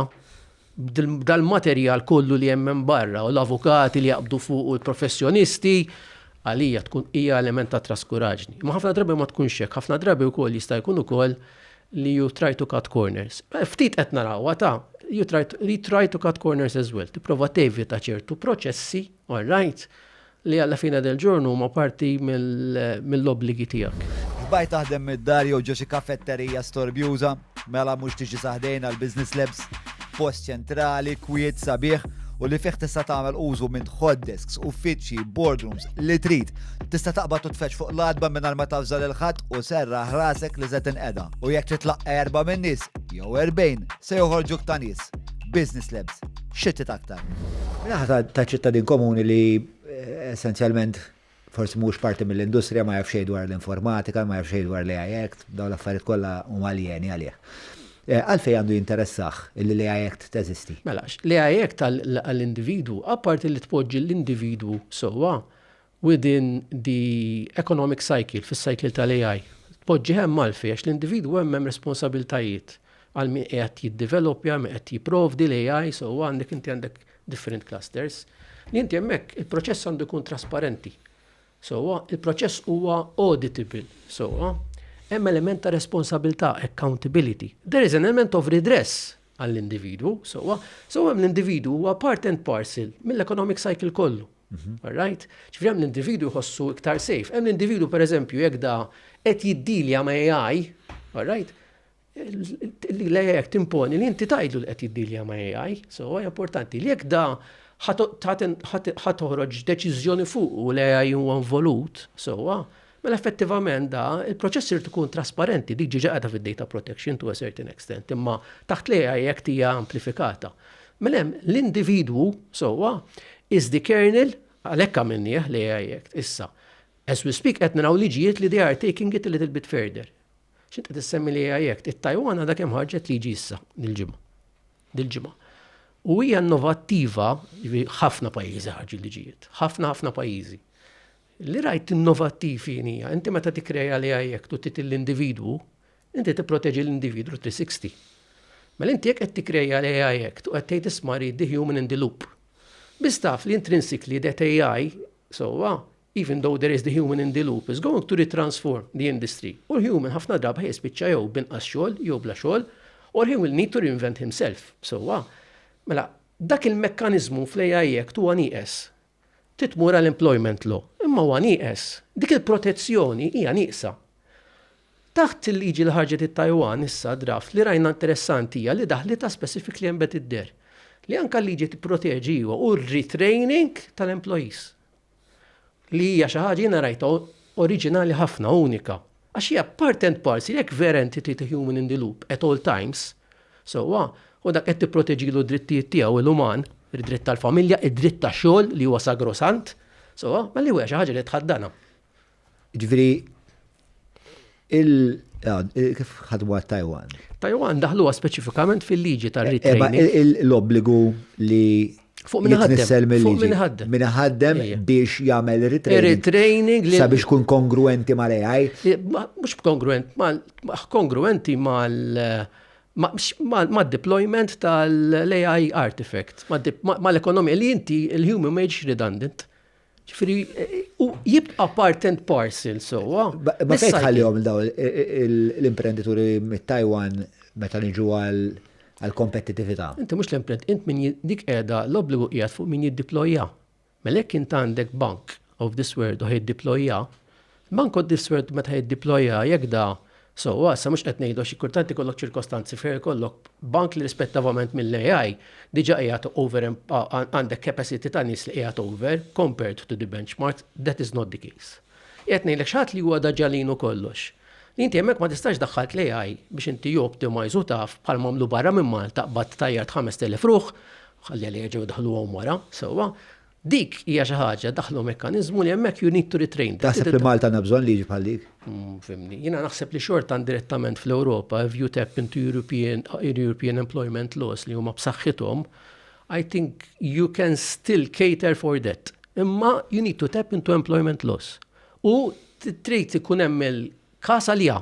b'dal-materjal kollu li hemm hemm barra u l-avukati li jaqbdu fuq u l-professjonisti, għalija tkun hija element ta' traskuraġni. Imma ħafna drabi ma tkunx hekk, ħafna drabi wkoll jista' jkun ukoll li you try to cut corners. Ftit qed narawha ta' you try to cut corners as well, tipprova tevita ċertu proċessi, all right, Li alla fine del giorno huma parti mill-obbligi tiegħek. Sbajt taħdem mid-dar jew ġo xi kafetterija storbjuża? Mela mhux tiġi sa ħdejn għall-Business Labs. Post ċentrali, kwiet, sabiħ, u li fih tista' tagħmel użu minn hot desks, uffiċċji, boardrooms, li trid. Tista' taqbad u tfeġġ fuq l-għatba mingħajr ma tavża lil ħadd u serraħ rasek li se tinqeda. U jekk trid tlaqqa' erba' min-nies, jew erbgħin, se joħorġuk ta' nies. Business Labs. xittet aktar. Minnaħa ta' ċittadin komuni li eh, essenzjalment forsi mhux parti mill-industrija ma jafxej dwar l-informatika, ma jafxej dwar l-AI Act, dawn l-affarijiet kollha huma aljeni għalih. Eh, għalfej għandu jinteressaħ li l-AI Act teżisti. Mela, l-AI Act għall-individu, apparti li tpoġġi l-individu sowa, Within the economic cycle, fis-cycle tal-AI, tpoġġi hemm għalfejn? Għax l-individwu hemm hemm responsabiltajiet għal min qiegħed jiddeveloppja, min qed jipprovdi l-AI, so għandek inti għandek different clusters. Li inti hemmhekk il-proċess għandu jkun trasparenti. So il-proċess huwa auditable. So hemm element ta' responsabilità, accountability. There is an element of redress għall-individwu, sewwa, so hemm l-individwu huwa part and parcel mill-economic cycle kollu. Mhm. All right? Ġifieri hemm l-individwu jħossu iktar safe. Hemm l-individwu pereżempju jekk da qed jiddilja ma' AI, all right? L-AI jekk timponi li inti tajdlu li qed jiddilja ma' AI, so huwa importanti li jekk da ħatoħroġ deċiżjoni fuq u l-AI huwa involut, sewwa, Mela effettivament da, il-proċess irid ikun trasparenti, dik ġiġa qiegħda fid-data protection to a certain extent, imma taħt l-AI Act hija amplifikata. Mela hemm l-individwu sewwa is the kernel għalhekk għamilnieh l-AI Act issa. As we speak qed naraw liġijiet li they are taking it a little bit further. X'int qed issemmi l-AI Act? It-Tajwan għadha kemm ħarġet liġi issa dil-ġimgħa. Dil-ġimgħa. U hija innovattiva, ħafna pajjiżi ħarġu liġijiet, ħafna ħafna pajjiżi. Li rajt innovattiv jien hija, inti meta tikkreja l-AI Act u trid l-individwu, inti tipproteġi l-individwu 360. Mela inti jekk qed tikkreja l-AI Act u qed tgħid isma' read the human in the loop. Biss taf li intrinsically that AI sewwa, even though there is the human in the loop, is going to retransform the industry u l-human ħafna drabi ħa jispiċċa jew b'inqas xogħol jew bla xogħol or he will need to reinvent himself sewwa. Mela dak il-mekkaniżmu fl-AI Act huwa nieqes. Trid tmur għal employment law, imma huwa nieqes. Dik il-protezzjoni hija nieqsa. Taħt il-liġi li ħarġet it-Tajwan issa, draft, li rajna interessanti hija li daħlitha specifically embedded there, li anke l-liġi tipproteġi iva u r-retraining tal-employees. Li hija xi ħaġa jiena rajtha oriġinali ħafna, unika. Għax hija part and parcel, jekk vera inti trid il-human in the loop at all times, sewwa, u dak qed tipproteġilu d-drittijiet tiegħu il-uman, id-dritt tal-familja, id-dritt ta' xogħol li huwa sagrosant, sewwa, mela hija xi ħaġa li tħaddanha. Jiġifieri il kif ħadmu għat-Tajwan? Tajwan daħluha speċifikament fil-liġi tar-retraining. L-obbligu li Fuq minn ħaddem. Fuq minn ħaddem. Minn ħaddem biex jagħmel retraining. li. Sabiex kun kongruenti mal-AI. Mhux kongruent, kongruenti mal ma deployment tal-AI artifact, mal-ekonomija li inti il-human ma jiġix redundant. Ġifiri, u jibqa part and parcel, so. Ma fejn tħallihom daw l-imprenditori mit-Taiwan meta niġu għal kompetitività. Inti mhux l-imprent, int min dik qiegħda l-obbligu qiegħed fuq min jiddeploja. Melek int għandek bank of this world u ħid deploja, Manko d-diswert meta jiddiploja jekk da sewwa, issa mhux qed ngħidu għax kultant ikollok ċirkostanzi fejn ikollok bank li rispettivament mill-AI diġà qiegħed over għandek capacity ta' nies li qiegħed over compared to the benchmark, that is not the case. Qiegħed ngħidlek xi ħadd li huwa da ġalin u kollox. Li inti hemmhekk ma tistax daħħalt l-AI biex inti you optimize u taf bħalma għamlu barra minn Malta qbadt tajjart 5,000 ruħ, ħalli għaliex jerġgħu jdaħħluhom wara, sewwa, Dik hija xi ħaġa daħlu mekkaniżmu li hemmhekk you need to retrain. Taħseb li Malta għandha bżonn liġi bħal dik? Mm, fimni, jiena naħseb li xorta direttament fl-Ewropa, if you tap into European, European employment laws li huma b'saħħithom, I think you can still cater for that. Imma you need to tap into employment laws. U trid ikun hemm il-kas għalija.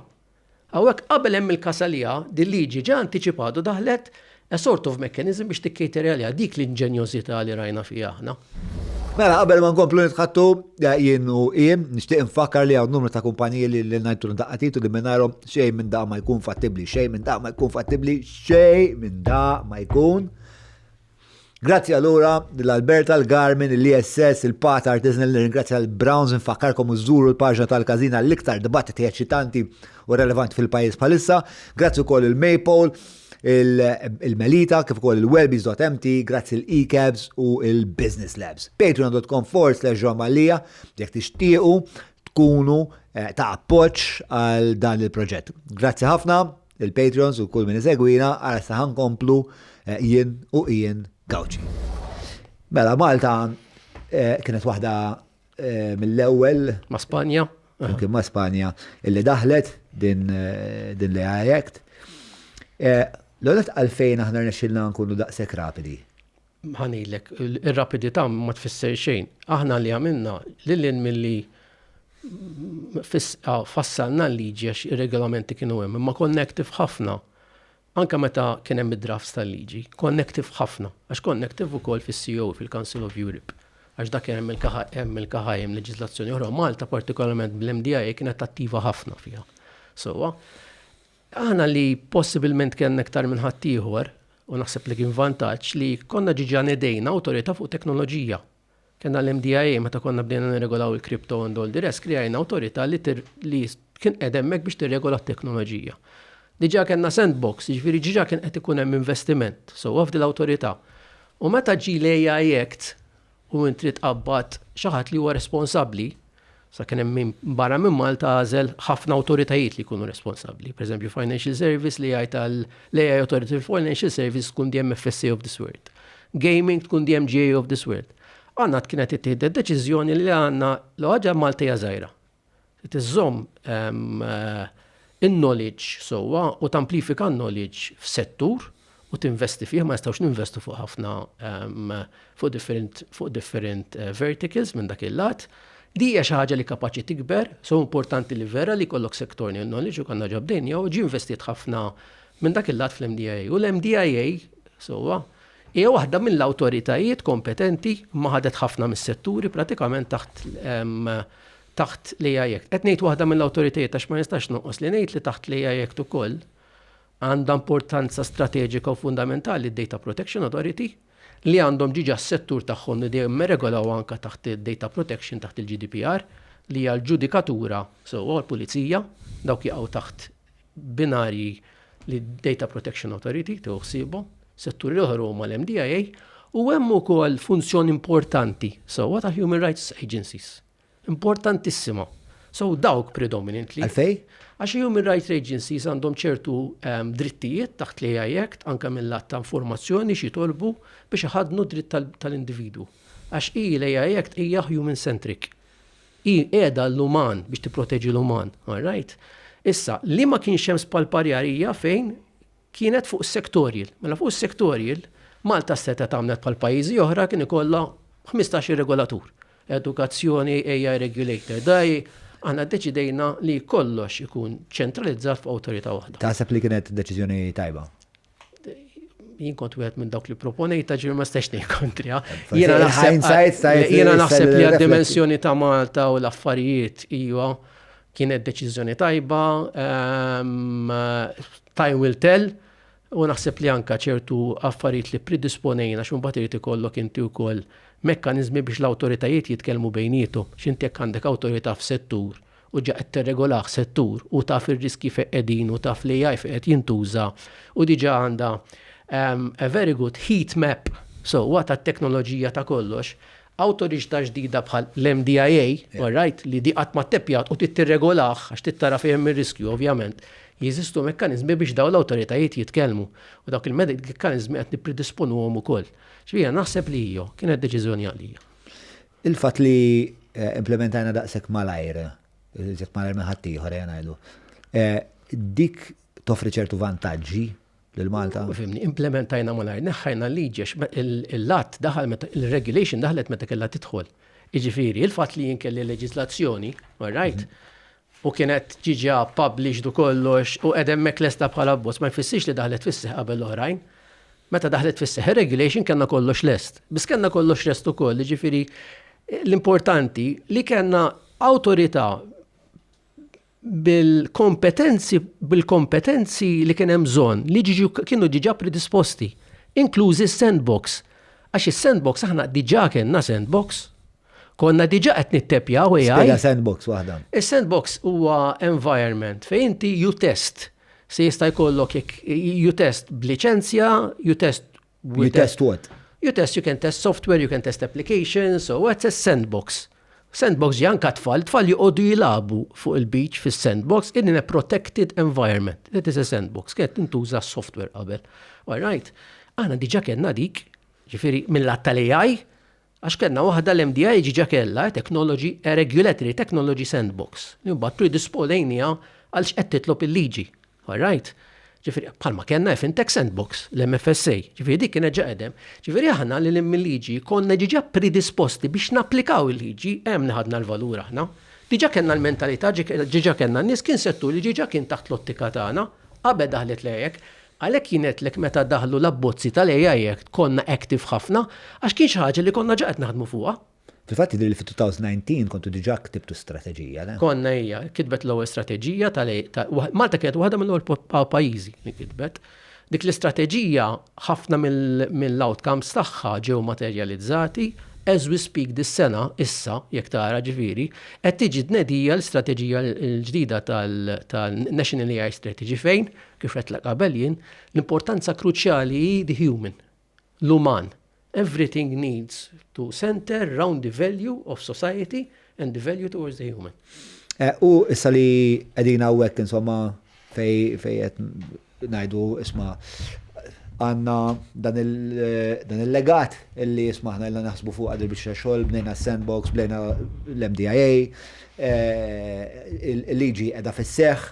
Hawnhekk qabel hemm il-kasa li ha, dil-liġi ġa antiċipatu daħlet a sort of mechanism biex tikcater għaliha. Dik l-inġenjożità li rajna fiha aħna. Mela qabel ma nkomplu nitħattu jien u hi, nixtieq infakkar li hawn numru ta' kumpaniji li li ngħidtu daqqa titu li mingħajrhom xejn minn da ma jkun fattibbli, xejn minn da ma jkun fattibbli, xejn minn da ma jkun Grazzi allura l-Alberta, l-Garmin, l-ISS, il-Pat Artisanal, nirringrazzja l-Browns nfakkarkom iżżuru l-paġna tal-każina l-iktar dibattiti eċitanti u relevanti fil-pajjiż bħalissa. Grazzi wkoll il-Maple, il-Melita, kif ukoll il-Welbies.mt, grazzi l-eCabs u il-Business Labs. Patreon.com forward slash John Mallia, jekk tixtiequ tkunu eh, ta' appoġġ għal dan il-proġett. Grazzi ħafna. Il-patrons u kull min isegwina għara sa ħankomplu eh, jien u Ian Gawċi. Mela Malta eh, kienet waħda eh, mill-ewwel ma' Spanja. Kien ma' Spanja illi daħlet din l-AI Act. L-għonet għalfejn aħna rnexxilna nkunu daqshekk rapidi. Ħa ngħidlek, ir-rapidità ma tfisser xejn. Aħna li għamilna lil hinn milli fassalna l-liġi għax ir-regolamenti kienu hemm, imma connective ħafna. Anke meta kien hemm id-drafts tal-liġi, connective ħafna, għax connective ukoll fis-COE, fil-Council of Europe. Għax dak hemm il-KHM, leġiżlazzjoni oħra, Malta partikolarment bl-MDIA kienet attiva ħafna fiha. Sewwa? Aħna li possibilment kellna iktar minn ħaddieħor, u naħseb li kien vantaġġ, li konna diġà nedejna awtorità fuq teknoloġija. Kellna l-MDIA meta konna bdejna nirregolaw il-crypto and all the rest, krijajna awtorità li kien qed hemmhekk biex tirregola t-teknoloġija. Diġà kellna sandbox, jiġifieri diġà kien qed ikun hemm investiment sewwa f'dil awtorità. U meta ġie l-AI Act, u int trid tqabbad xi ħadd li huwa responsabbli, sa kien hemm min barra minn Malta għażel ħafna awtoritajiet li jkunu responsabbli. Per eżempju, Financial Service li jgħid għal l-AI Authority fil-Financial Service tkun diem FSA of this world. Gaming tkun diem GA of this world. Għanna kienet ittieħdet deċiżjoni li għanna l-ħaġa Malta hija żgħira. Trid iżżomm in-knowledge sewwa u tamplifika n-knowledge f'settur u tinvesti fih, ma nistgħux ninvestu fuq ħafna fuq different verticals minn dak il-lat. Din hija xi ħaġa li kapaċi tikber, so importanti li vera li jkollok sectorial knowledge u konna ġa bdejna u ġie investiet ħafna minn dak il-lat fl-MDIA. U l-MDIA sewwa Hija waħda mill-awtoritajiet kompetenti imma ħadet ħafna mis-setturi pratikament taħt taħt l-AI Act. Qed ngħid waħda mill-awtoritajiet għax ma nistax nonqos li ngħid li taħt l-AI Act ukoll għandha importanza strateġika u fundamentali d-Data Protection Authority li għandhom diġà s-settur tagħhom li dejjem irregolaw anke taħt id-data protection taħt il-GDPR li hija l-ġudikatura sewwa u l-pulizija dawk jaqgħu taħt binarji li d-Data Protection Authority tieħu ħsiebu, setturi oħra huma l-MDIA, u hemm ukoll funzjoni importanti sewwa ta' Human Rights Agencies. Importantissima. So dawk predominantly. Għalfej? Għax Human Rights Agencies għandhom ċertu ehm, drittijiet taħt li ai Act anke mill-att ta' informazzjoni xi tolbu biex iħadnu dritt tal-individwu. Għax hi l-AI Act hija human centric. Hi qiegħda għall-uman, biex tipproteġi l-uman. All right? Issa, li ma kienx hemm spalparjar hija fejn kienet fuq is-sectorial. Mela fuq is-sectorial, Malta setgħet għamlet bħal pajjiżi oħra kien ikollha 15-il regolatur. Edukazzjoni, AI regulator, DAE, aħna ddeċidejna li kollox ikun ċentralizzat f'awtorità waħda. Taħseb li kienet deċiżjoni tajba? jien kont wieħed minn dawk li proponejta ġifieri ma stax ngħid kontriha. Jiena naħseb li għad-dimensjoni ta' Malta u l-affarijiet hija kienet deċiżjoni tajba, ehm, time will tell, u naħseb li anka ċertu affarijiet li predisponejna xum bat irid ikollok inti wkoll mekkanizmi biex l-awtoritajiet jitkellmu bejnietom. X'inti jekk għandek awtorità f'settur u ġa qed tirregolah settur u taf ir-riskji fejn qegħdin u taf l-AI fejn qed jintuża u diġà għandha a very good heat map sewwa tat-teknoloġija ta' kollox, awtoriġtà ġdida bħal l-MDIA, all right, li di qatt ma tteppjat u trid tirregolah għax trid tara fejn hemm ir-riskju ovvjament, jeżistu mekkaniżmi biex dawn l-awtoritajiet jitkellmu u dawk il-mekkaniżmi qed nippridisponuhom ukoll. Jiġifieri jiena naħseb li ijo, kienet deċiżjoni għalija. Il-fatt li implimentajna daqshekk malajr, iżjed malajr minn ħaddieħor ejja ngħidu, dik toffri ċertu vantaġġi lil Malta? Fimni, implimentajna malajr, neħħajna l-liġi għax l-att daħal meta il-regulation daħlet meta kellha tidħol. Jiġifieri, il-fatt li jien kelli leġislazzjoni, all right, u kienet diġà published u kollox u qiegħda hemmhekk lesta bħala abbozz ma jfissirx li daħlet fis-seħħ qabel l-oħrajn. Meta daħlet fis-seħħ ir-regulation kellna kollox lest. Biss kellna kollox lest ukoll, jiġifieri l-importanti li kellna awtorità bil-kompetenzi bil-kompetenzi li kien hemm bżonn li kienu diġà predisposti, inklużi s-sandbox. Għax is-sandbox aħna diġà kellna sandbox. Konna diġa qed nitteppjaw AI. Spiega sandbox waħda. Is-sandbox huwa environment fejn inti you test. Se jista' jkollok you test b'liċenzja, you test You test what? You test, you can test software, you can test applications, so what's a sandbox? Sandbox ġi anka tfal, tfal joqogħdu jilabu fuq il-beach fis-sandbox in a protected environment. That is a sandbox, kienet intuża software qabel. All right. Aħna diġa kellna dik, ġifieri mill-att tal-AI, Għax kellna waħda l-MDI ġiġa kellha technology, a regulatory technology sandbox, li mbagħad predispolejniha għal x'qed titlob il-liġi. All right? Ġifieri bħalma kellna eFintech Sandbox, l-MFSA, ġifieri dik kienet ġa qegħdem. Ġifieri aħna lil hinn mil-liġi konna ġiġa predisposti biex napplikaw il-liġi, hemm li ħadna l-valur aħna. Diġa kellna l-mentalità, ġiġa kellna n-nies, kien settur li ġiġa kien taħt l-ottika tagħna qabel daħlet l-AEC. Għalhekk jien għedtlek meta daħlu l-abbozzi tal-AI Act konna active ħafna għax kien xi ħaġa li konna ġa qed naħdmu fuqha. Fil-fatt jidhirli li fit-2019 kontu diġà ktibtu strateġija, le? Konna hija kitbet l-ewwel strateġija tal-AI. Malta kienet waħda mill-ewwel pajjiżi li kitbet. Dik l-istrateġija ħafna mill-outcomes tagħha ġew materjalizzati. As we speak dis-sena, issa, jekk tara, ġifieri, qed tiġi tnedija l-istrateġija l-ġdida tal-National AI Strategy fejn Kif għedtlek qabel jien, l-importanza kruċjali hi the human, l-uman. Everything needs to center round the value of society and the value towards the human. Eh, u issa li qegħdin hawnhekk insomma fej fej qed ngħidu isma' għandna dan il-legat illi isma' aħna ilna naħsbu fuq għadil biex xogħol bnejna sandbox, bnejna l-MDIA, eh, il-liġi qiegħda fis-seħħ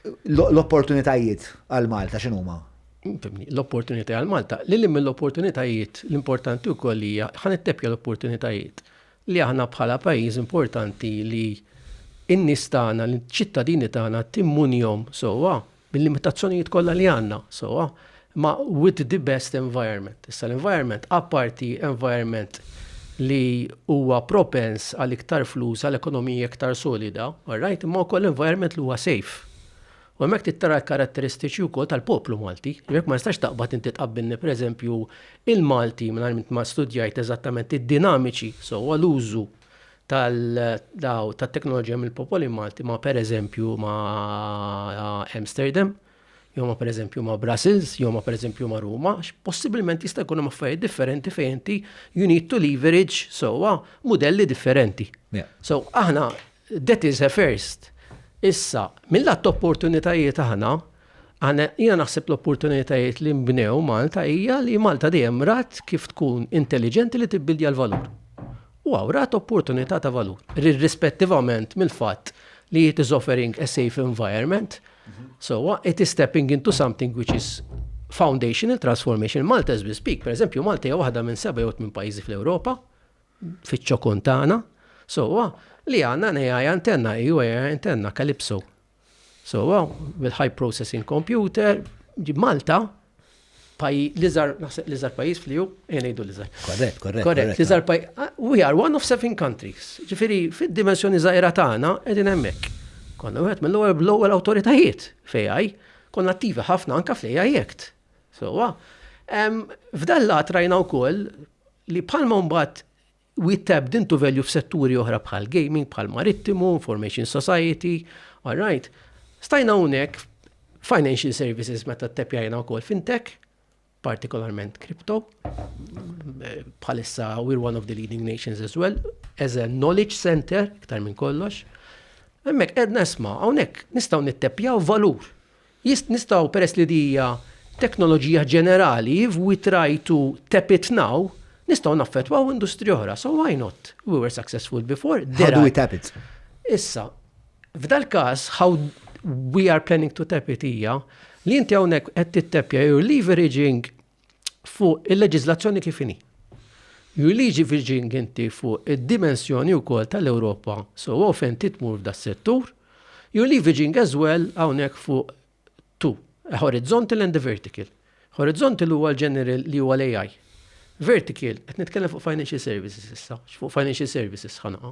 L-opportunitajiet għal Malta x'inhuma? L-opportunitajiet għal Malta, li lim l-opportunitajiet l-importanti wkoll hija ħan ittepja l-opportunitajiet li aħna bħala pajjiż importanti li in-nies tagħna, l-ċittadini tagħna timmunjhom sewwa bil-limitazzjonijiet kollha li għandna sewwa. ma' with the best environment. Issa l-environment, apparti environment li huwa propens għal iktar flus, għal ekonomija iktar solida, all right, imma wkoll environment li huwa safe. U hemmhekk tittara l-karatteristiċi wkoll tal-poplu Malti. Jekk ma nistax taqbad inti tqabbilni pereżempju il-Malti mingħajr ma studjajt eżattament id-dinamiċi sewwa l-użu tal-teknoloġija mill-popoli Malti ma pereżempju ma Amsterdam. jew ma pereżempju ma' Brussels, jew ma pereżempju ma' Ruma, possibilment jista' jkun hemm affarijiet differenti fejn inti you need to leverage sewwa modelli differenti. So aħna that is a first. Issa, mill-att opportunitajiet aħna, jiena naħseb l-opportunitajiet li nbnew Malta hija li Malta dejjem rat kif tkun intelligenti li tibbildja l-valur. u awrat opportunità ta' valur, irrispettivament mill-fatt li it is offering a safe environment, sowa, it is stepping into something which is foundational transformation. Malta as we speak, per eżempju, Malta hija waħda minn seba' jew minn pajjiżi fl-Ewropa, fiċ-ċokun tagħna, sowa, li għandna AI antenna, EU AI antenna, Calypso, So, bil-high processing computer, ġib Malta, l-izar, naħseb l-izar pajis fl-ju, jenajdu l-izar. Korrekt, korrekt. Korrekt, l-izar pajis. Ah, we are one of seven countries. Ġifiri, fil-dimensjoni zaħira tagħna edin hemmhekk. Konna wieħed mill-ewwel bl-ewwel awtoritajiet fejaj, konna attivi ħafna anka fejaj jekt. So, f'dan lat rajna wkoll li bħalma mbagħad We tapped into value f'setturi oħra bħal gaming, bħal marittimu, information society, all right. Stajna hawnhekk financial services meta t-tepjajna wkoll fintech, partikolarment crypto, bħalissa we're one of the leading nations as well, as a knowledge center, iktar minn kollox. Hemmhekk qed nesma' hawnhekk nistgħu nittepjaw valur. Jist, nistgħu, peress li di hija teknoloġija ġenerali, if we try to tap it now, nistgħu naffettwaw industriji oħra, so why not? We were successful before. How do we tap it? Issa, f'dal-każ, how we are planning to tap it hija li inti hawnhekk qed tittappja, you are leveraging fuq il-leġiżlazzjoni kif inhi. Liġi Virgin Ginti fuq id-dimensjoni wkoll tal-Ewropa so often titmur f'da settur, you leave Virgin as well hawnhekk fuq two, a horizontal and a vertical. Horizontal huwa l-general li huwa l-AI. Vertical, qed nitkellem fuq financial services issa, fuq financial services ħanaqa.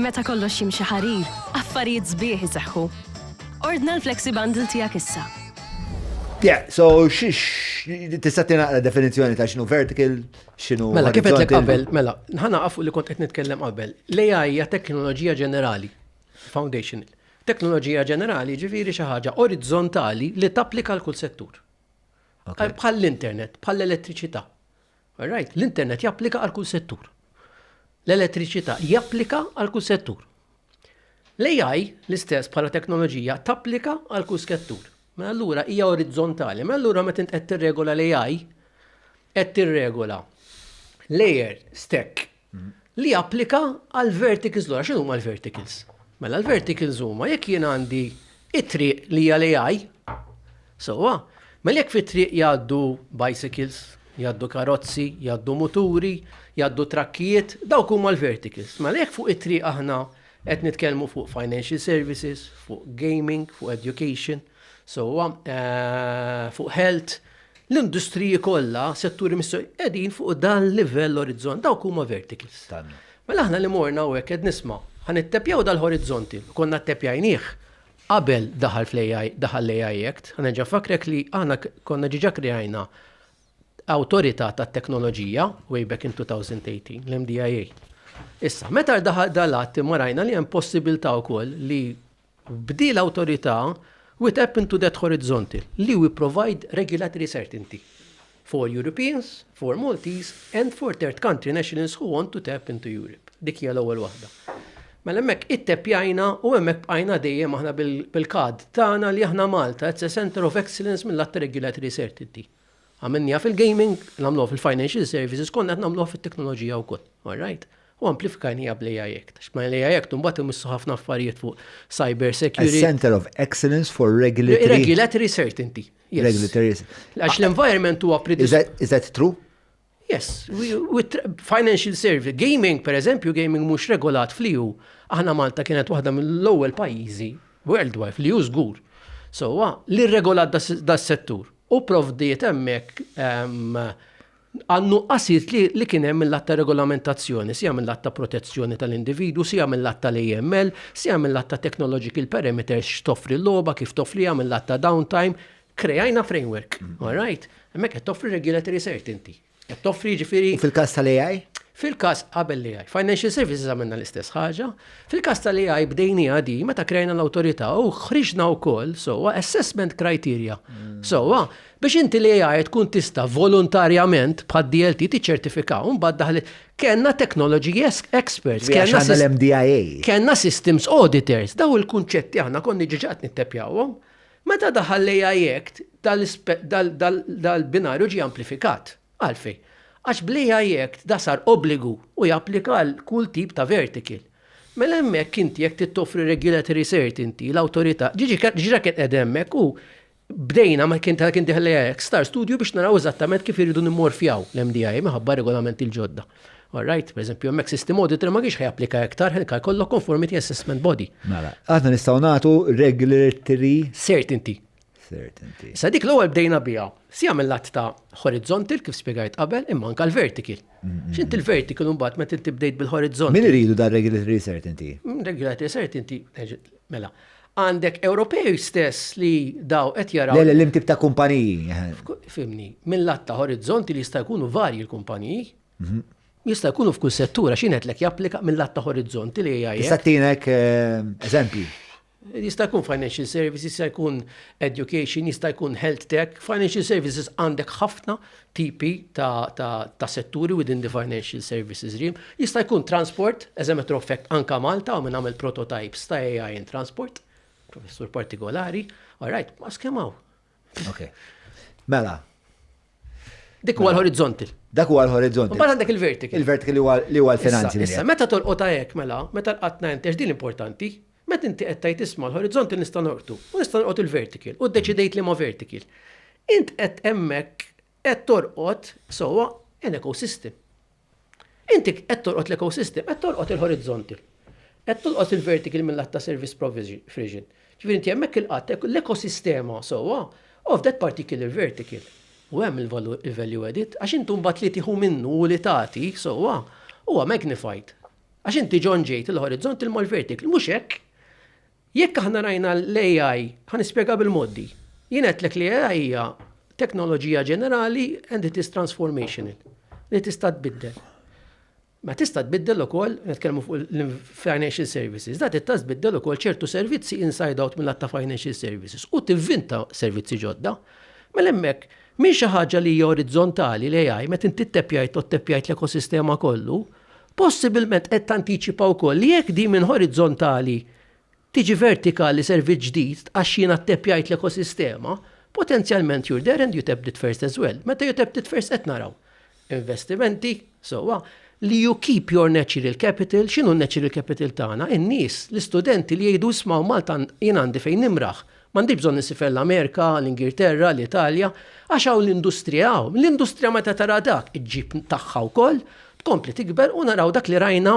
Meta kollox jimxi ħarir, affarijiet sbieħ iseħħu. Ordna l-Flexi Bundle tiegħek issa. Yeah, so xiex, tista' tinaqra definizzjoni ta' xinu vertical, xinu. Mela, kif qed qabel, mela, nħana għafu li kont qed nitkellem qabel. L-AI hija teknoloġija ġenerali, foundational. Teknoloġija ġenerali ġifiri xi ħaġa orizzontali li tapplika l-kull settur. Bħall-internet, bħall-elettriċità. All right, l-internet japplika għal kull settur. L-elettriċità japplika għal kull settur. L-AI l-istess bħala teknoloġija tapplika għal kull skettur. Ma mela allura hija orizzontali, ma mela allura meta qed tirregola l-AI qed tirregola layer stack li japplika għal verticals l xinu huma l-verticals? Mela l-verticals huma jekk jien għandi it-triq li hija l-AI, sewwa, mela jekk fit-triq jgħaddu bicycles, jgħaddu karozzi, jgħaddu muturi, jgħaddu trakkijiet, dawk huma l-verticals. Mela jekk fuq it-triq aħna qed nitkellmu fuq financial services, fuq gaming, fuq education, sewwa fuq health, l-industriji kollha, setturi mis-sewwa qegħdin fuq dan l-livell orizzont, dawk huma verticals. Mela aħna li morna u hekk qed nisma' ħa nittepjaw dal-horizzonti, konna ttepjajnieh qabel daħal fl-AI, daħal l-AI Act, ħa nerġa' nfakkrek li aħna konna diġà krejajna awtorità tat-teknoloġija way back in 2018, l-MDIA. Issa, meta daħal dal-att imma rajna li hemm possibilità wkoll li B'di l-awtorità, we tap into that horizontal li we provide regulatory certainty for Europeans, for Maltese and for third country nationals who want to tap into Europe. Dik hija l-ewwel waħda. Mela hemmhekk itteppjajna u hemmhekk bqajna dejjem aħna bil-kad tagħna li aħna Malta it's a center of excellence mill-att regulatory certainty. Għamilniha fil-gaming, nagħmluha fil-financial services, konna qed nagħmluha fit-teknoloġija wkoll. All right? U amplifikajniha bl-AI Act. Għax ma' l-AI Act imbagħad imissu ħafna affarijiet fuq cyber security. A centre of excellence for regulatory. Regulatory certainty. Yes. Regulatory. Għax l-environment huwa. Is that true? Yes, with financial service. Gaming, per eżempju, gaming mhux regolat fl-EU. Aħna Malta kienet waħda mill-ewwel pajjiżi worldwide fl-EU żgur. So, li regolat das-settur u provdiet hemmhekk ehm, għannu qasit li kien hemm mill-att ta' regolamentazzjoni, sija mill-att ta' protezzjoni tal-individu, sija mill-att tal-AML, sija mill-att ta' technological parameters x'toffri l-logħba, kif toffriha mill-att ta' downtime, Kreajna framework, all right? Hemmhekk qed toffri regulatory certainty. Qed toffri ġifieri. Fil-każ tal-AI? Fil-każ qabel li għaj, financial services għamilna l-istess ħaġa, fil-każ tal għaj bdejni għadi meta krejna l-autorità u ħriġna wkoll sowa assessment criteria. Mm. Sowa, biex inti li għaj tkun tista volontarjament bħad DLT tiċċertifikaw un daħli kena technology experts, kena l-MDIA. Kena systems auditors, daw il-kunċetti aħna konni ġiġat nittepjawhom. Meta daħal l-AI Act, dal-binarju ġie amplifikat. Għalfejn? Għax bl-AI Act da sar obbligu u japplika għal kull tip ta' vertical. Mela hemmhekk inti jekk trid toffri regulatory certainty, l-awtorità, diġà kien qiegħda hemmhekk u bdejna meta kien dieħel l-AI Act star studju biex naraw eżattament kif irridu nimmorfjaw l-MDA minħabba r-regolamenti l-ġodda. All right, per eżempju, hemmhekk system auditor ma kienx ħajapplika iktar ħelka jkollok conformity assessment body. Mela, aħna nistgħu nagħtu regulatory certainty. Certainty. Sa dik l-ewwel bdejna biha, si jagħmel lat ta' horizontal kif spjegajt qabel imma anke l-vertical. X'int il-vertical mbagħad meta inti bdejt bil-horizontal. Min iridu dar regulatory certainty? Mm, regulatory certainty, mela. Għandek Ewropej stess li daw qed jaraw. Le, le, li mtib ta' kumpaniji. Fimni, minn lat ta' orizzonti li jista' jkunu varji l-kumpaniji. Mhm. Jista' jkunu f'kull settura x'inhet lek japplika minn lat ta' orizzonti li jgħid. Tista' tinek eh, eżempji. Jista' jkun financial services, jista' jkun education, jista' jkun health tech, financial services għandek ħafna tipi ta' setturi within the financial services realm. Jista' jkun transport, as a matter of fact, anka Malta għamel nagħmel prototypes ta' AI in transport, professur partikolari, all right, ma skemaw. Ok. Mela. Dik huwa l-horizontal. Dak huwa l-horizontal. Mbagħad għandek il-vertical. Il-vertical li huwa l-finanzi. Issa, meta tolqot hekk mela, meta l-qatt ngħid din importanti, Meta inti qed tgħid isma' l-horizontal nista' norqdu u nista' norqod il-vertical u ddeċidejt liema vertical. Int qed hemmhekk qed torqod sewwa an ecosystem. Inti qed torqod l-ecosystem, qed torqod il-horizontal. Qed tolqot il-vertical mil-lat ta' service provision. Ġifieri inti hemmhekk ilqadt l-ekosistema sewwa of that particular vertical. U hemm il-value added għax inti mbagħad li tieħu minnu u li tagħti sewwa huwa magnified. Għax inti ġon ġejt il-horizont il-mall vertikli, mhux hekk. Jekk aħna rajna l-AI, ħan nispjega bil-moddi. Jien qedtlek li AI hija teknoloġija ġenerali and it is transformational li tista' tbiddel. Ma tista' tbiddel ukoll, nitkellmu fuq l-financial services, da tista' tbiddel ukoll ċertu servizzi inside out mill-atta financial services u tivvinta servizzi ġodda. Mela hemmhekk, minn xi ħaġa li hija orizzontali li għaj, meta inti tteppjajt u tteppjajt l-ekosistema kollu, Possibilment qed tantiċipa wkoll li jekk din minn horizzontali tiġi vertikali servizz ġdid għax jiena ttappjajt l-ekosistema, potenzjalment you're there and you tapped it first as well. Meta you tapped it first qed naraw investimenti, sewwa, li you keep your natural capital, x'inhu n-natural capital tagħna? In-nies, l-istudenti li jgħidu isma' Malta jien għandi fejn nimraħ, M'għandix bżonn insifel l-Amerika, l-Ingilterra, l-Italja, għax hawn l-industrija hawn. L-industrija meta tara dak iġġib tagħha wkoll, tkompli tikber u naraw dak li rajna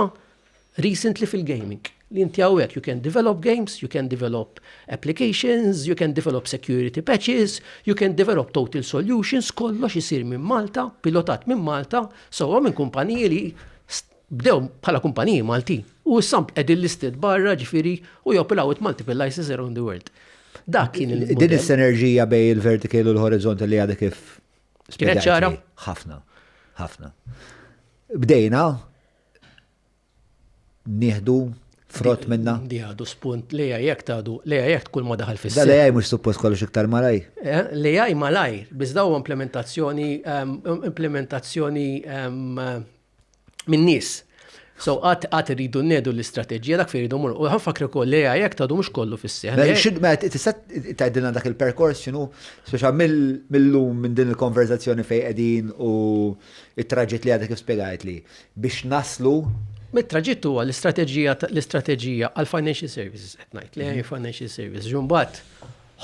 recently fil-gaming. Li inti hawnhekk you can develop games, you can develop applications, you can develop security patches, you can develop total solutions, kollox isir minn Malta, pilotat minn Malta, sewwa minn kumpaniji li Bdew bħala kumpaniji Maltin u issa qegħdin listed barra ġifieri u joperaw with multiple licenses around the world. Dak kien il-. Din is-sinerġija bejn il-vertical u l-horizontal li għadha kif. Kienet ċara? Ħafna, ħafna. Bdejna nieħdu frott minna. Di għadu spunt li għajek tadu, li għajek tkun ma daħal fis Li għaj mux suppost kollox iktar malaj. Eh, li għaj malaj, bizdaw implementazzjoni, ehm, implementazzjoni ehm, minn nies. So għat għat rridu nedu l-istrateġija dak fejn rridu mur. U ħanfakri wkoll li għaj jekk tgħadu mhux kollu fis-seħ. Mela, mela, tista' tgħidilna dak il-perkors x'inhu speċa mill-lum minn din il-konverzazzjoni fejn qegħdin u it-traġitt li għadek kif spjegajt li biex naslu Mit-traġitt huwa l-istrateġija l-istrateġija għal financial services qed ngħid li mhm. financial services. Ġumbat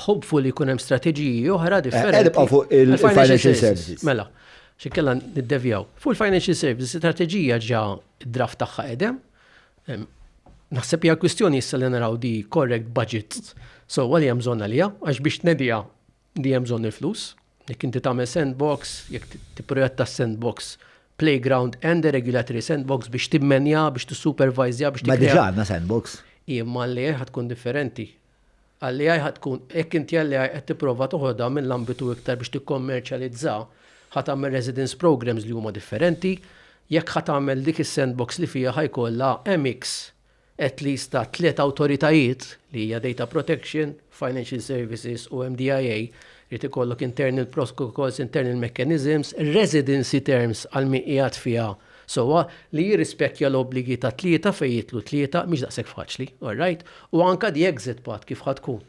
ħobfu li jkun hemm strateġiji oħra eh, differenti. Qed fuq il-financial services. Mela. X'inkella niddevjaw. Fuq il-financial services, strateġija ġa d-draft tagħha qegħdem. Naħseb hija kwistjoni issa li naraw di correct budget so li hemm bżonn għaliha, għax biex tnedija di hemm bżonn il-flus. Jekk inti tagħmel sandbox, jekk tipprojetta sandbox playground and a regulatory sandbox biex timmenja, biex tissupervajzja, biex Ma diġà għandna sandbox. Imma li ħad tkun differenti. Għall-AI ħa tkun, jekk inti għall-AI qed tipprova toħodha mill-ambitu iktar biex tikkommerċjalizza, ħa tagħmel residence programmes li huma differenti. Jekk ħa tagħmel dik is-sandbox li fiha ħa jkollha mix at least ta' tliet awtoritajiet li hija data protection, financial services u MDIA, irid ikollok internal protocols, internal mechanisms, residency terms għal min qiegħed fiha Sewwa, li jirrispettja l-obbligi ta' tlieta fejn jidħlu tlieta mhix daqshekk faċli, all right? U anke the exit path kif ħa tkun.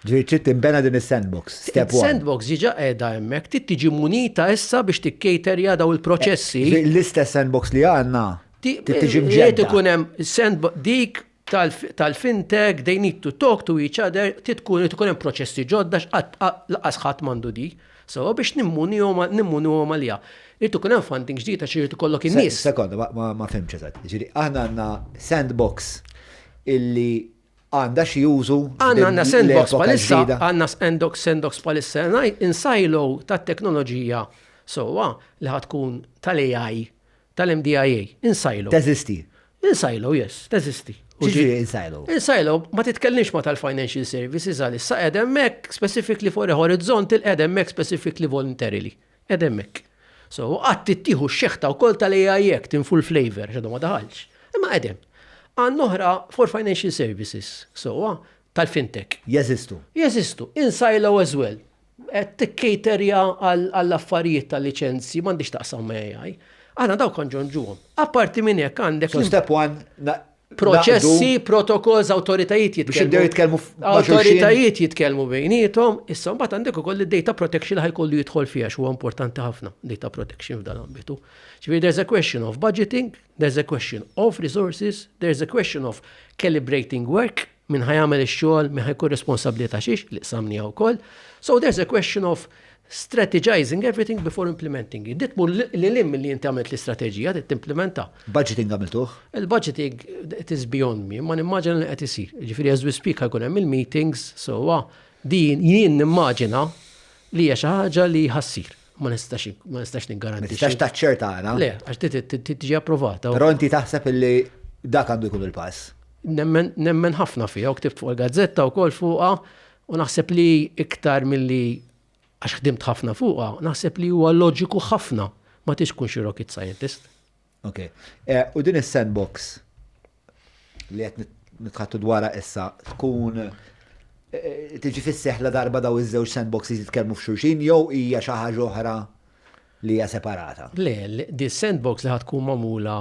Ġifieri trid tinbena din is-sandbox, step one. Is-sandbox diġà qiegħda hemmhekk, trid tiġi munita issa biex tikcaterja dawn il-proċessi. Ġifieri l-istess sandbox li għandna trid tiġi mġedda. Irid ikun hemm sandbox, dik tal-fintech, they need to talk to each other, trid ikun hemm proċessi ġodda x'qatt lanqas ħadd m'għandu di. Sewwa biex nimmunihom nimmunihom għaliha. Irid ikun hemm funding ġdid għax irid ikollok in-nies. Sekonda, ma fhimtx eżatt. Jiġifieri aħna għandna sandbox illi għandha xi użu. Għandna għandna sandbox bħalissa, għandna sandbox sandbox bħalissa in silo tat-teknoloġija sewwa li ħad tkun tal-AI tal-MDIA, in silo. Teżisti. In silo, yes, teżisti. X'ġifieri in silo? In silo, ma titkellimx ma tal-financial services għalissa qed hemmhekk specifically for a horizontal qed hemmhekk specifically voluntarily. Qed hemmhekk. So, qatt tittieħu x-xeħta wkoll tal-AI Act in full flavor, x'għadu ma daħalx. Imma qed hemm. Għan oħra for financial services, sewwa, tal-fintech. Jeżistu. Jeżistu, in silo as well. Qed tikcaterja għall-affarijiet tal-liċenzji, m'għandhiex x'taqsam ma' AI. Aħna dawk kont ġo nġuhom. Apparti minn hekk għandek. So step one, naqdu. Proċessi, protokolls, awtoritajiet jitkellmu. Biex jibdew jitkellmu ma' xulxin. Awtoritajiet jitkellmu bejniethom, issa mbagħad għandek ukoll id-data protection li ħa jkollu jidħol fiha għax huwa importanti ħafna data protection f'dan l-ambitu. Ġifieri there's a question of budgeting, there's a question of resources, there's a question of calibrating work, Min ħa jagħmel ix-xogħol, min ħa jkun responsabbli ta' xiex, li qsamniha wkoll. So there's a question of strategizing everything before implementing it. Dit mur li lim li jinti għamilt l-istrateġija, dit timplementa. Budgeting għamiltuħ? Il-budgeting, it is beyond me, ma nimmaġina li qed isir. Ġifiri, as we speak, għakun hemm il-meetings, so din jien nimmaġina li hija xi ħaġa li ħassir. ma nistax ma nistax niggaranti. Nistax taċċerta għana. Le, għax tiġi approvata. Però inti taħseb illi dak għandu jkun il-pass. Nemmen ħafna fija, u ktibt fuq il-gazzetta u kol fuqa, u naħseb li iktar mill-li għax ħdimt ħafna fuqa, naħseb li huwa loġiku ħafna ma tix kun xi rocket scientist. Ok. U din is-sandbox li qed nitħattu dwarha issa tkun eh, tiġi fis-seħla darba daw iż-żewġ sandboxes jitkellmu f'xulxin jew hija xi ħaġa oħra li hija separata. Le, di sandbox li ħatkun magħmula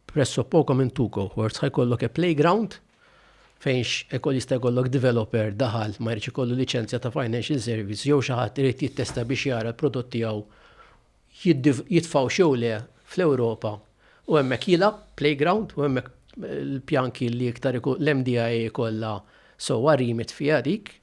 presso poco minn two cohorts ħajkollok e playground fejnx ekol jista' jkollok developer daħal ma jridx ikollu liċenzja ta' financial service jew xi ħadd irid jittesta biex jara l-prodott tiegħu jitfgħux jew le fl-Ewropa u hemmhekk jilgħab, playground, u hemmhekk il-pjan kien li iktar l-MDIA jkollha sewwa remit fiha dik.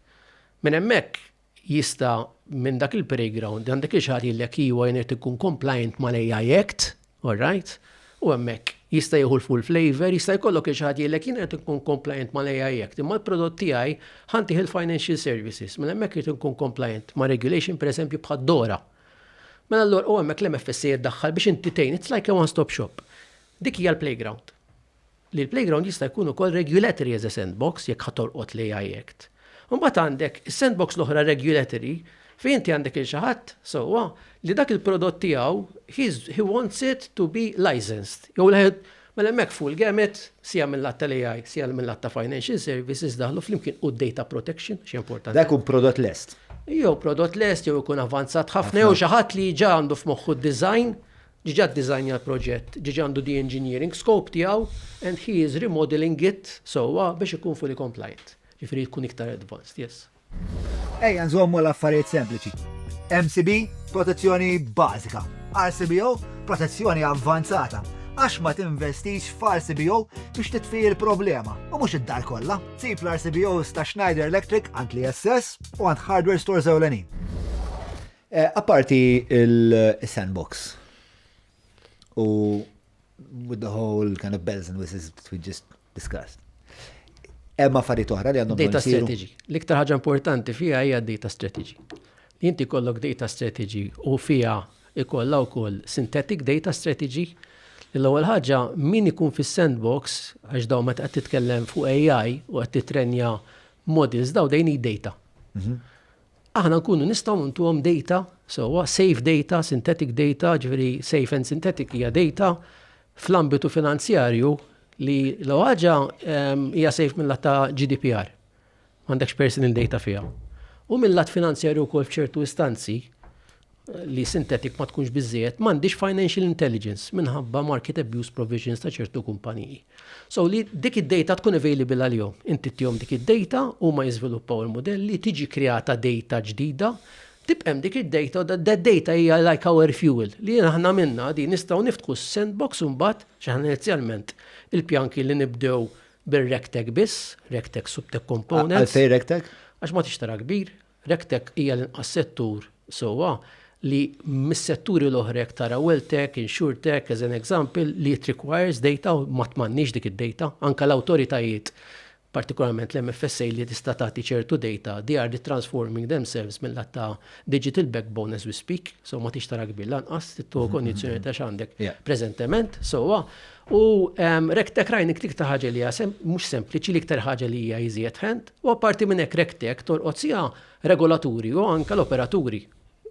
Minn hemmhekk jista' minn dak il-playground għandek li xi ħadd jgħidlek iva jien irid ikun compliant mal-AI Act, all right, u hemmhekk jista' jieħu l-full flavor, jista' jkollok li xi ħadd jgħidlek jien irid inkun compliant mal-AI Act, imma l-prodott tiegħi ħa ntih il-financial services, minn hemmhekk irid inkun compliant ma' regulation pereżempju bħad-DORA. Mela allura u hemmhekk l-MFSA jiddaħħal biex inti tgħin, it's like a one stop shop. Dik hija l-playground. Li l-playground jista' jkun ukoll regulatory as a sandbox jekk ħa tolqot l-AI Act. Imbagħad għandek is-sandbox l-oħra regulatory fejn inti għandek lil xi ħadd, sewwa, li dak il-prodott tiegħu he wants it to be licensed jew Mela hemmhekk fuq il-gamut, sija mil-lat tal-AI, sija mil-lat ta' financial services daħlu flimkien u d-data protection għax hija importanti. Dan ikun prodott lest? Jew prodott lest jew ikun avvanzat ħafna jew xi ħadd li ġa għandu f'moħħu d-design, ġiġa ddisajnja l-proġett, ġiġa għandu the engineering scope tiegħu and he is remodeling it sewwa biex ikun fully compliant. Jiġifieri tkun iktar advanced, yes. Ejja nżommu l-affarijiet sempliċi. MCB, protezzjoni bażika. RCBO, protezzjoni avvanzata. Għax ma tinvestix f'RCBO biex titfi l-problema, u mhux id-dar kollha. Sib l-RCBOs ta' Schneider Electric għand li SS u għand hardware stores ewlenin. Eh, apparti il-sandbox u with the whole kind of bells and whistles, we just Discussed. Hemm affarijiet oħra li għandhom Data strategy. L-iktar ħaġa importanti fiha hija data strategy. Li inti kollok data strategy u fiha ikollha wkoll synthetic data strategy li l-ewwel ħaġa min ikun fis-sandbox għax daw meta qed titkellem fuq AI u qed titrenja models daw dejn data. Mhm. aħna nkunu nistgħu ntuhom data sewwa, safe data, synthetic data, ġifieri safe and synthetic hija data fl-ambitu finanzjarju li l ħaġa ehm, hija safe mill-lat ta' GDPR. M'għandekx personal data fiha. U mill-lat finanzjarju wkoll f'ċertu istanzi, li synthetic ma tkunx biżżejjed, m'għandix financial intelligence minħabba market abuse provisions ta' ċertu kumpaniji. So li dik id-data tkun available għal-jom. Inti tihom dik id-data u ma jiżviluppaw il-modelli, tiġi kreata data ġdida, tibqem dik id-data u that data hija like our fuel li aħna minna di nistgħu niftħu sandbox u mbagħad x'aħna inizjalment il-pjan kien li nibdew bir-rectech biss, rectech subtech components. Għalfej rectech? Għax ma tixtara kbir, Regtech hija l-inqas settur, sewwa, li mis-setturi l-oħra jekk tara Welltech, Insurtech as an example, li it requires data u ma m'għandniex dik id-data. Anke l-awtoritajiet, partikolarment l-MFSA li tista' tagħti ċertu data, they are retransforming themselves mil-lat ta' digital backbone as we speak, so ma tridx tara kbir lanqas, trid tieħu konjizzjoni ta' x'għandek preżentement, sewwa. U Rectech Rajnik dik ta' ħaġa li hija mhux sempliċi l-iktar ħaġa li hija iżjed ħend, u apparti minn hekk Rectech torqod siha regolaturi u anke l-operaturi.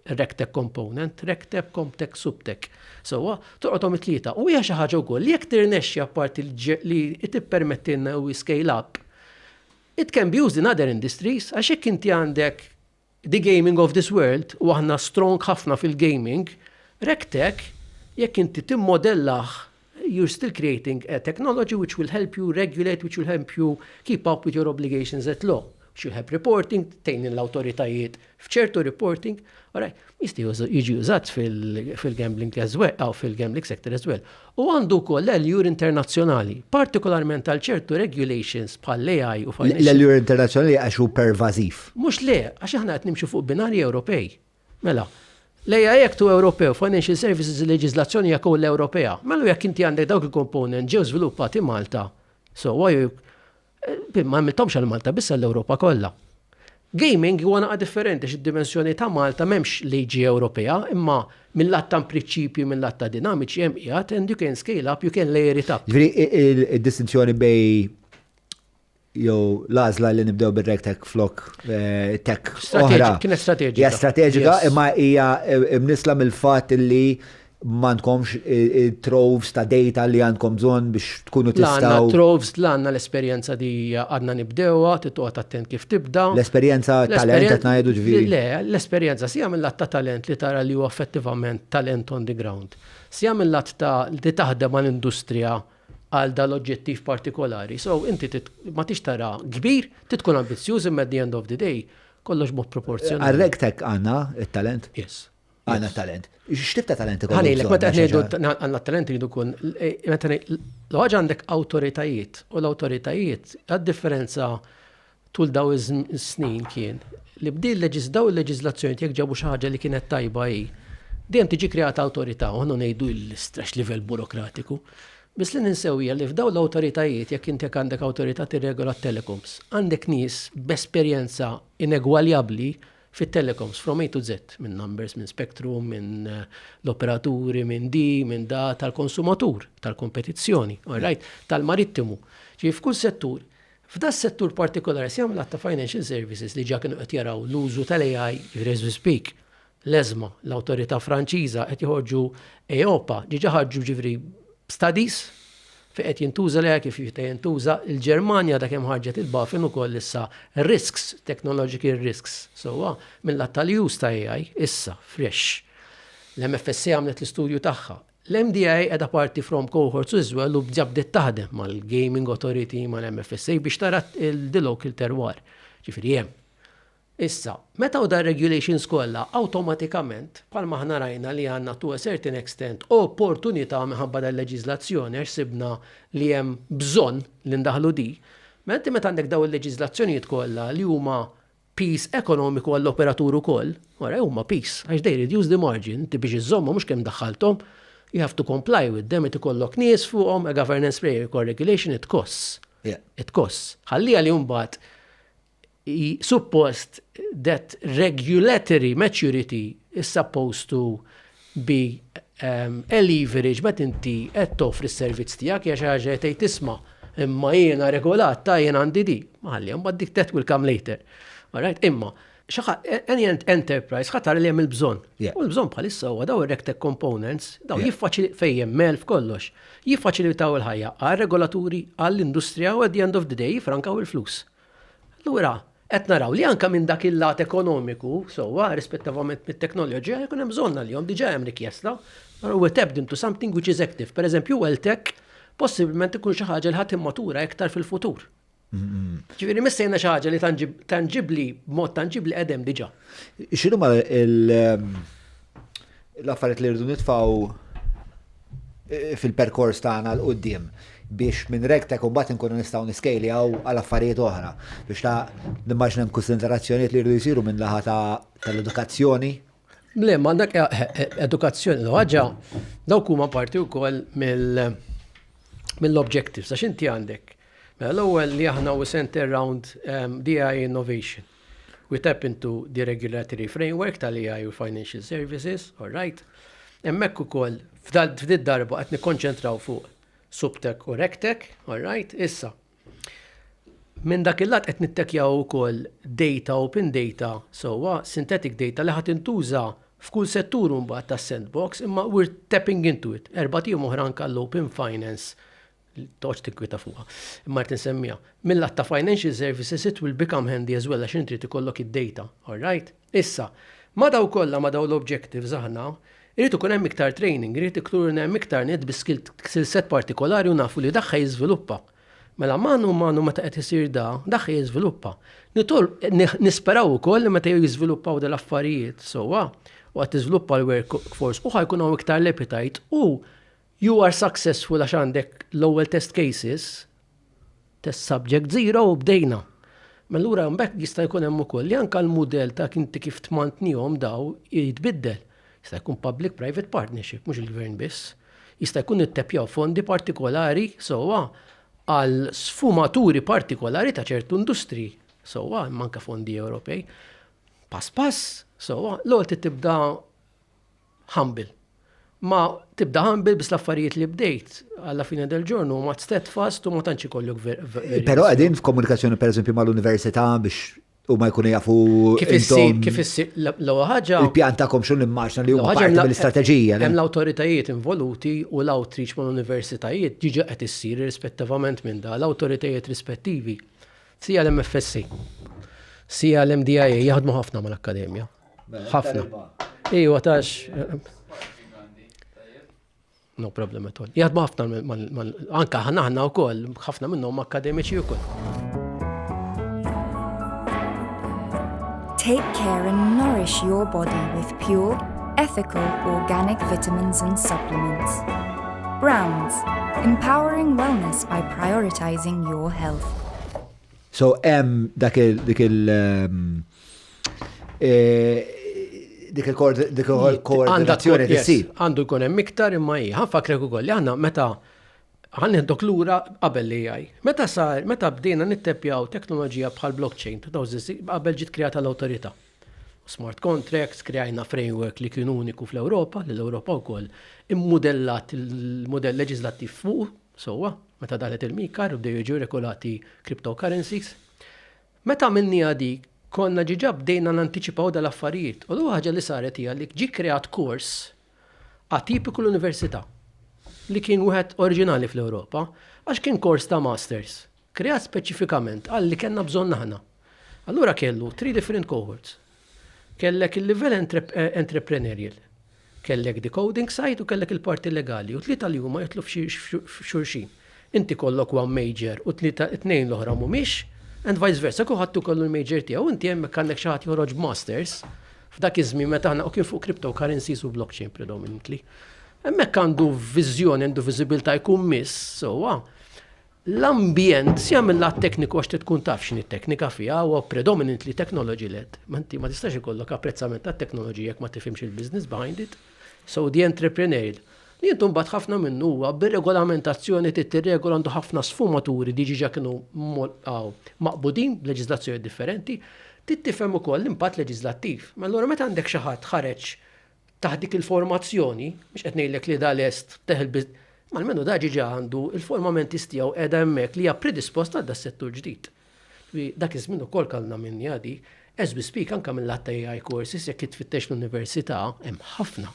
Rectech Component, Rectech, Comtech, Subtech. Sewwa, torqodhom it-tlieta. U hija xi ħaġa wkoll li jekk tirnexxi apparti li tippermettilna u scale up, it can be used in other industries għax jekk inti għandek The gaming of this world u aħna strong ħafna fil-gaming, RegTech jekk inti timmodellah you are still creating a technology which will help you regulate, which will help you keep up with your obligations at law, which will help reporting, tgħin lill-awtoritajiet f'ċertu reporting, alright, jista' jiġi użat fil-gambling as well, fil-gambling sector as well. u għandu wkoll l-għeljur internazzjonali, partikolarment għal ċertu regulations bħall-AI u financial. L-għeljur internazzjonali għax hu pervażiv. Mhux le, għax aħna qed nimxu fuq binarji Ewropej. Mela, l-AI Act hu Ewropew, financial services il-leġiżlazzjoni hija kollha Ewropea. Mela jekk inti għandek dawk il-component ġew żviluppati Malta, so why Ma għamilthomx għal Malta, biss għall-Ewropa kollha. Gaming huwa naqa' differenti x'id-dimensjoni ta' Malta m'hemmx liġi Ewropea, imma mill-lat ta' prinċipji, mill-lat ta' dinamiċi hemm qiegħed and you can scale up, you can layer it up. Ġifieri id-distinzjoni bej jew l-għażla li nibdew bir-RegTech flok tech oħra. Kienet strateġika. Hija strateġika imma hija mnissla mill-fatt li m'għandkomx it-troves ta' data li għandkom bżonn biex tkunu tistgħu. La għandna troves, la għandna l-esperjenza li għadna nibdewha, trid toqgħod attent kif tibda. L-esperjenza talent qed ngħidu ġifieri. Le, l-esperjenza sija mill-lat ta' talent li tara li huwa effettivament talent on the ground. Sija mill-lat ta' li taħdem għal industrija għal dan l-oġġettiv partikolari. So inti ma tix tara kbir, trid tkun ambizzjuż imma at the end of the day kollox mod proporzjonali. Għal-RegTech għandna it-talent? Yes. Għanna talent. X'tib ta' talent ikun? Għanilek, meta ngħidu għandna talent jridu kun, eh, meta l-ħaġa għandek awtoritajiet u l-awtoritajiet għad-differenza tul daw is-snin kien li bdi daw il-leġiżlazzjoni jekk ġabu xi ħaġa li kienet tajba hi. Dejjem tiġi kreata awtorità u ħannu ngħidu l-istrax livell burokratiku. Bis li ninsewja li f'daw l-awtoritajiet jekk intek għandek awtorità tirregola telecoms, għandek nies b'esperjenza inegwaljabbli fit-telecoms from A to Z, minn numbers, minn spectrum, minn l-operaturi, minn di, minn da, tal-konsumatur, tal-kompetizzjoni, all right, tal-marittimu. Ġifieri f'kull settur, f'da s-settur partikolari se jagħmel għadd ta' financial services li ġa kienu qed jaraw l-użu tal-AI, ġifieri as we speak, l-ESMA, l-awtorità Franċiża qed joħorġu EIOPA, diġà ħarġu ġifieri studies Fejn qed jintuża l-AI, kif jista' jintuża, il-Ġermanja għadha kemm ħarġet il-BaFin ukoll issa risks, technological risks, sewwa mil-lat tal-use ta' AI, issa, fresh. L-MFSA għamlet l-istudju tagħha. L-MDA qiegħda parti from cohorts as well u bġa bdiet taħdem mal-Gaming Authority, mal-MFSA biex tara d-dLocal terroir. Ġifieri hemm. Issa, meta u dar-regulations kollha awtomatikament, bħal ma aħna rajna li għandna to a certain extent opportunità minħabba dal-leġiżlazzjoni għax sibna li hemm bżonn li ndaħħlu din, mela inti meta għandek dawn il-leġiżlazzjonijiet kollha li huma piż ekonomiku għall-operatur ukoll, wara huma piż għax they reduce the margin, inti biex iżżommhom mhux kemm daħħalthom, you have to comply with them, irid ikollok nies fuqhom, a governance framework or regulation it costs. It costs. Ħalliha li mbagħad suppost that regulatory maturity is supposed to be um, a leverage ma tinti qed toffri s-servizz tiegħek hija xi ħaġa qed tisma' imma jiena regolat ta' jien għandi di. Maħalli, mbagħad dik that will come later. Alright, imma xaħa, any enterprise ħatar li hemm il-bżonn. U l-bżonn bħalissa huwa daw ir-rectech components, daw jiffaċili fejjem mel f'kollox, jiffaċilitaw il-ħajja għal regolaturi għall-industrija u at the end of the day jifrankaw il-flus. Allura, qed naraw li anke minn dak il-lat ekonomiku, sewwa, irrispettivament mit-teknoloġija, jkun hemm bżonn għalihom, diġà hemm rikjesta, allura we're tapped into something which is active. Pereżempju, wealth tech possibbilment ikun xi ħaġa li ħa timmatura iktar fil-futur. Ġifieri missejna xi ħaġa li tanġibbli, b'mod tanġibbli qegħdem diġà. X'inhuma l- l-affarijiet li rridu nitfgħu fil-perkors tagħna l qudiem biex minn regtek u mbagħad inkunu nistgħu niskejljaw għal affarijiet oħra biex ta' nimmaġna hemm kunsiderazzjonijiet li jridu jsiru minn laħa tal-edukazzjoni. Le, ma dak eh, eh, eh, edukazzjoni l ħaġa dawk huma parti wkoll mill-objectives għax inti għandek. Mela l-ewwel li aħna u center round ehm, DI innovation. We tap into the regulatory framework tal-AI u l-financial services, all right. Hemmhekk ukoll f'did-darba qed nikkonċentraw fuq SupTech u RegTech, all right. Issa, minn dak il-lat qed nittekjaw ukoll data, open data, sewwa synthetic data li ħa tintuża f'kull settur imbagħad tas-sandbox, imma we're tapping into it. Erbat ijiem oħra anke għall-open finance toqgħodx tikkwieta fuqha. Imma qed insemmija. Mill-att ta' financial services it will become handy as well għax int trid ikollok id-data. All right? Issa, ma' daw kollha ma' daw l-objectives aħna, irid ikun hemm iktar training, irid ikun hemm iktar nies bi skill set partikolari u nafu li dak ħa jiżviluppa. Mela manu a manu meta qed isir da, dak ħa jiżviluppa. Nisperaw ukoll li meta jiżviluppaw da l-affarijiet sewwa u qed tiżviluppa l-workforce u ħa jkun hawn iktar l-appetite u You are successful għax għandek l-ewwel test cases, test subject zero u bdejna. Mallura mela mbagħad jista' jkun hemm ukoll li anke l-mudell ta' inti kif tmantnihom daw jitbiddel. Jista' jkun public-private partnership, mhux il-gvern biss. Jista' jkun ittepjaw fondi partikolari sewwa għal sfumaturi partikolari ta' ċertu industriji sewwa, imma anke fondi Ewropej. Pass pass, sewwa, l-ewwel tibda humble. Ma tibda humble bis l-affarijiet li bdejt għalla fine del ġornu ma steadfast u ma tantx ikollok verità. Però qegħdin f'komunikazzjoni pereżempju mal-università biex u ma jkunu jafu. Kif issir, kif issir, l-ewwel ħaġa. Il-pjan tagħkom xun immaġna li huwa ħaġa l-istrateġija. Hemm l-awtoritajiet involuti u l-outreach mal-universitajiet ġiġa qed issir irrispettivament minn da l-awtoritajiet rispettivi. Sija l-MFSC, sija l-MDIA jaħdmu ħafna mal-akkademja. ħafna. Ejwa tax. No problem at all. Jaħdmu ħafna anka ħana ħana wkoll, ħafna minnhom akademiċi wkoll. Take care and nourish your body with pure, ethical, organic vitamins and supplements. Browns, empowering wellness by prioritizing your health. So, em, dak il- um, Dik il-koordinazzjoni tisir. Għandu jkun hemm iktar imma hi. Ħanfakrek ukoll li aħna meta ħanħdok lura qabel li jgħaj. Meta sar, meta bdejna nittepjaw teknoloġija bħal blockchain, qabel ġiet kreata l-awtorità. Smart contracts, kreajna framework li kien uniku fl-Ewropa, li l-Ewropa wkoll immudellat il-mudell leġislattiv fuq, sewwa, meta daħlet il-MiCAR u bdew jiġu regolati cryptocurrencies. Meta għamilniha dik, konna diġà bdejna nantiċipaw dal-affarijiet u l-ewwel ħaġa li saret hija li ġie kkreat kors atipiku l-Università, li kien wieħed oriġinali fl-Ewropa, għax kien kors ta' Masters, kreat speċifikament għal li kellna bżonn aħna. Allura kellu three different cohorts. Kellek il-livell entrepreneurial, kellek decoding side u kellek il-parti legali u t-tlieta li huma jidħlu f'xulxin. Inti jkollok one major u t-tlieta t-tnejn l-oħra mhumiex and vice versa, kulħadd hu jkollu l-major tiegħu. Inti hemmhekk għandek xi ħadd joħroġ b'masters f'dak iż-żmien meta aħna u kien fuq cryptocurrencies u blockchain predominantly. Hemmhekk għandu viżjoni, għandu viżibilità jkun miss sewwa. L-ambjent, sija mil-lat tekniku għax trid tkun taf x'inhi t-teknika fiha, huwa predominantly technology led. Ma inti ma tistax ikollok apprezzament għat-teknoloġija jekk ma tifhimx il-business behind it. So the entrepreneurial li intu mbagħad ħafna minnu huwa bir-regolamentazzjoni trid tirregola għandu ħafna sfumaturi li diġiġa kienu maqbudin b'leġiżlazzjonijiet differenti, trid tifhem ukoll l-impatt leġiżlattiv. Allura meta għandek xi ħadd ħareġ Taħt dik il-formazzjoni, mhux qed ngħidlek li da lest teħel bi, imma almenu da ġiġa għandu il-formamentis tiegħu qiegħda hemmhekk li hija predispost għal das-settur ġdid. Ġifieri dak iż-żmien ukoll kellna minn jgħadi, as we speak anke mil-lat ta' AI courses jekk int tfittex fl-università hemm ħafna.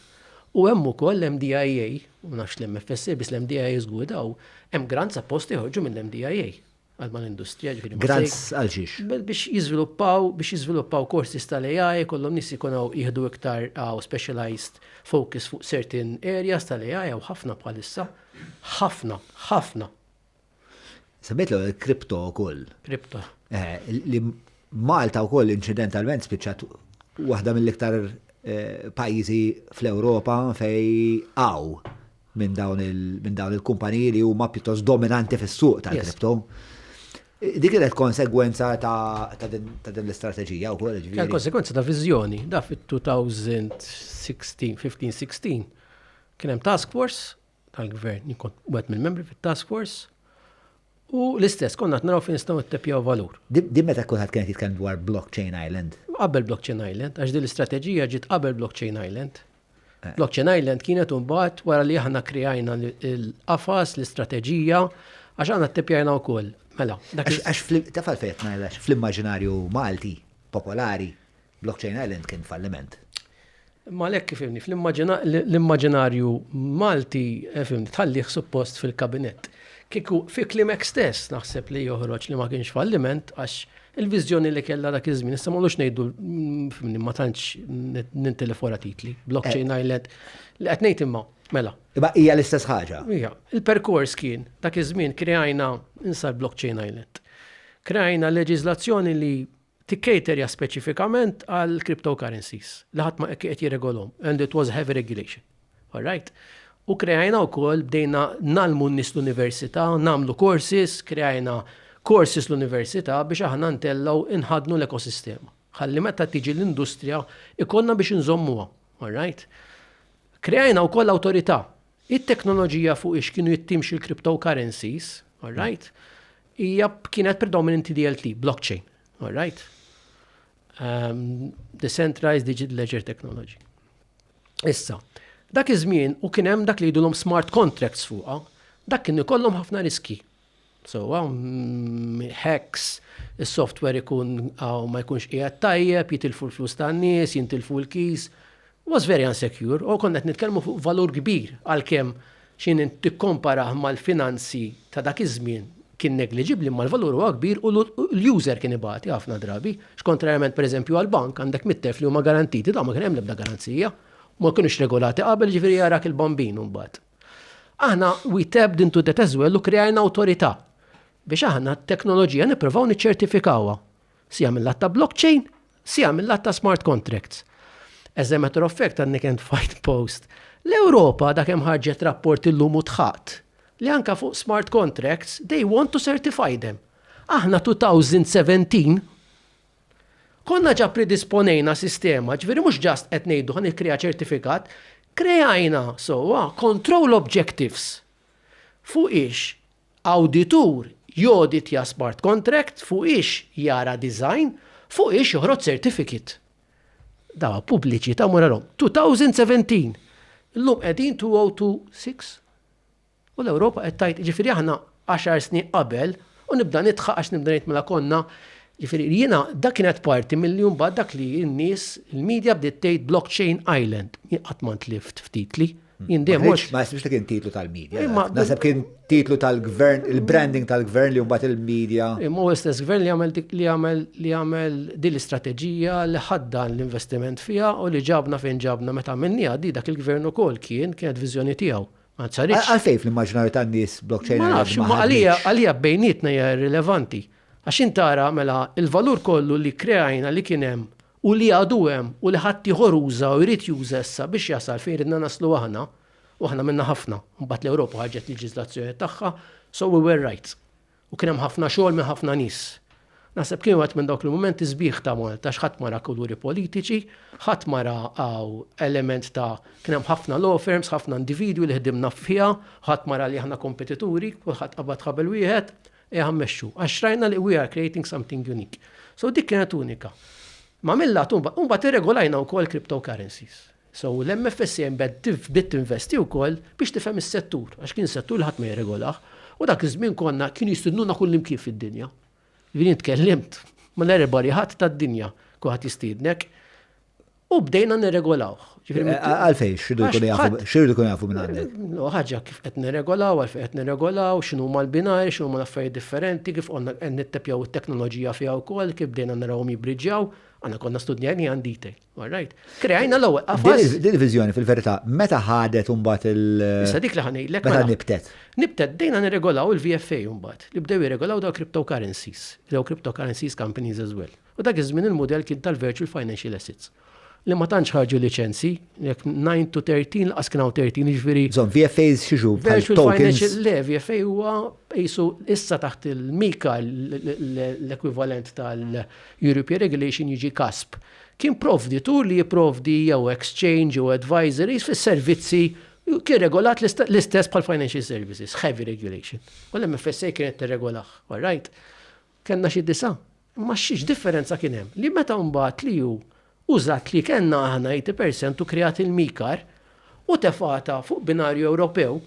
U hemm ukoll l-MDIA, u ma nafx l-MFSA biss l-MDIA żgur daw, hemm grants apposta joħorġu mill-MDIA. għal mal-industrija ġifieri. Grants għal xiex? Biex jiżviluppaw, biex jiżviluppaw courses tal-AI, kollhom nies ikun hawn jieħdu iktar hawn specialized focus fuq certain areas tal-AI hawn ħafna bħalissa. Ħafna, ħafna. Semmejt l kripto wkoll. Kripto. Eh, li Malta wkoll incidentalment spiċċat waħda mill-iktar eh, pajjiżi fl-Ewropa fej għaw minn dawn il-kumpaniji li huma pjuttost dominanti fis-suq tal-kripto. Dik kienet konsegwenza ta' din l-istrateġija wkoll. Kienet konsegwenza ta' viżjoni. Da fit-2016, 15-16, kien hemm task force tal-gvern, jien kont wieħed mill-membri fit-task force, U l-istess, konna qed naraw fejn nistgħu nittepjaw valur. Din meta kulħadd kien qed jitkellem dwar Blockchain Island. Qabel Blockchain Island, għax din l-istrateġija ġiet qabel Blockchain Island. Blockchain Island kienet imbagħad wara li aħna kkrijajna l-qafas, l-istrateġija, għax aħna ttepjajna wkoll. Mela, dak. Għax taf għalfejn qed ngħidha, fl-immaġinarju Malti popolari, Blockchain Island kien falliment. Imma għalhekk ifhimni, fl-immaġinarju Malti fimni tħallih suppost fil-kabinett. Kieku fi klimek stess naħseb li joħroġ li ma kienx falliment għax il-viżjoni li kellha dak iż-żmien. Issa ma ngħidu fimni ma tantx nintilef wara titli. Blockchain eh. Island li qed ngħid imma mela. Imma hija l-istess ħaġa. Hija. Il-perkors kien dak iż-żmien kreajna insar Blockchain Island. Kreajna leġiżlazzjoni li tikkaterja speċifikament għal cryptocurrencies li ħadd ma qed jirregolhom and it was heavy regulation. All right? U kreajna wkoll bdejna nalmu n-nies l-università, nagħmlu courses, kreajna courses l-università biex aħna ntellgħu inħadnu l-ekosistema. Ħalli meta tiġi l-industrija ikollna biex inżommuha. All right? Kreajna wkoll awtorità It-teknoloġija fuq ix kienu jittimxu l-cryptocurrencies, all right, hija kienet predominantly DLT, blockchain, all right. Um, decentralized Digital Ledger Technology. Issa, dak iż-żmien u kien hemm dak li jidulhom smart contracts fuqha, dak kien ikollhom ħafna riski. Sewwa, hacks, is-software ikun hawn ma jkunx qiegħed tajjeb, jitilfu l-flus tan-nies, jintilfu l-keys. Was very unsecure u konna qed nitkellmu fuq valur kbir għalkemm xi tikkomparah mal-finanzi ta' dak iż-żmien kien negliġibbli imma l-valur huwa kbir u l-user kien ibati ħafna drabi għax kontrarjament pereżempju għall-bank għandek 100,000 li huma garantiti dawn ma kien hemm l-ebda garanzija u ma kinux regolati qabel jiġifieri arak il-bambin imbagħad. Aħna we tapped into that as well u krejajna awtorità biex aħna t-teknoloġija nippruvaw niċċertifikawha. Sija mill-lat ta' blockchain, sija mill-lat ta' smart contracts. As a matter of fact, għandni kent fight post. L-Ewropa da kemm ħarġet rapport illum u tħaqt li anka fuq smart contracts they want to certify them. Aħna 2017 Konna ġa pridisponejna sistema, ġifieri mhux just qed ngħidu ħa nikkrea ċertifikat, kreajna sewwa control objectives fuqiex awditur joditja smart contract, fuqiex jara design, fuqiex joħroġ certificate. Dawa pubbliċi ta' moralhom. 2017. Illum qegħdin 2026. U l-Ewropa qed tgħid, jiġifieri aħna għaxar snin qabel, u nibda nidħaq għax nibda ngħid mela konna, jiġifieri jiena dak kienet parti milli mbagħad dak li n-nies, il-media bdiet tgħid blockchain island. Jien qatt ma ntlift f'titli. Jien dejjem mhux. Ma jsibx li kien titlu tal-media. Naħseb kien titlu tal-gvern, il-branding tal-gvern li mbagħad il-media. Imma u l-istess gvern li għamel li għamel li għamel din l-istrateġija li ħaddan l-investiment fiha u li ġabna fejn ġabna meta għamilniha di dak il-gvern ukoll kien kienet viżjoni tiegħu. Ma saritx. Għalfejn fl-immaġinarju tan-nies blockchain Ma nafx, imma għalija għalija bejnietna hija irrilevanti. Għax int tara mela l-valur kollu li kkreajna li kien hemm u li għadu hemm u li ħaddieħor uża u jrid juża issa biex jasal fejn ridna naslu aħna, u aħna għamilna ħafna, imbagħad l-Ewropa ħarġet leġiżlazzjoni tagħha, so we were right. U kien hemm ħafna xogħol minn ħafna nies. Naħseb kien wieħed minn dawk il-mumenti sbieħ ta' Malta għax ħadd ma ra kuluri politiċi, ħadd ma ra hawn element ta' kien hemm ħafna law firms, ħafna individwi li ħdimna fiha, ħadd ma ra li aħna kompetituri, kulħadd qabad ħabel wieħed, ejja mmexxu. Għax rajna li we are creating something unique. So dik kienet unika. Ma' mill-lat imbagħad irregolajna wkoll cryptocurrencies. So l-MFSA bdiet tinvesti wkoll biex tifhem is-settur, għax kien settur li ħadd ma jirregolah, u dak iż-żmien konna kienu jistidnuna kullimkien fid-dinja. Jiġifieri jien tkellimt mal-everybody ħadd tad-dinja, kulħadd jistiednek, u bdejna nirregolawh. Għalfejn, x'ridu jkunu jafu, x'ridu jkunu jafu minn għandek? No, ħaġa kif qed nirregolaw, għalfejn qed nirregolaw, x'inhu ma l-binari, x'inhu ma l-affarijiet differenti, kif konna qed nittepjaw it-teknoloġija fiha wkoll, kif bdejna narawhom jibriġġjaw, għandna konna studjajni għan detail. All right. Kreajna l-ewwel qafas. Din il-viżjoni fil-verità meta ħadet imbagħad il- Issa dik li ħanejlek. Meta mela. nibtet. Nibtet bdejna nirregolaw il-VFA imbagħad li bdew jirregolaw daw cryptocurrencies, daw cryptocurrencies companies as well. U dak iż-żmien il-mudell kien tal-virtual financial assets li ma tantx ħarġu liċenzi, jekk 9 to 13 laqas kien hawn 13 jiġifieri. Żon VFAs xiġu virtual financial le VFA huwa qisu issa taħt il-mika l-ekwivalent tal-European Regulation jiġi kasp Kien provditur li jipprovdi jew exchange jew advisories fis-servizzi kien regolat l-istess bħal financial services, heavy regulation. U l-MFSA kienet tirregolah, all right? Kellna xi disa'. Imma xi differenza kien hemm? Li meta mbagħad li hu użat li kellna aħna 80% u kreat il-MiCAR u tefgħatha fuq binarju Ewropew,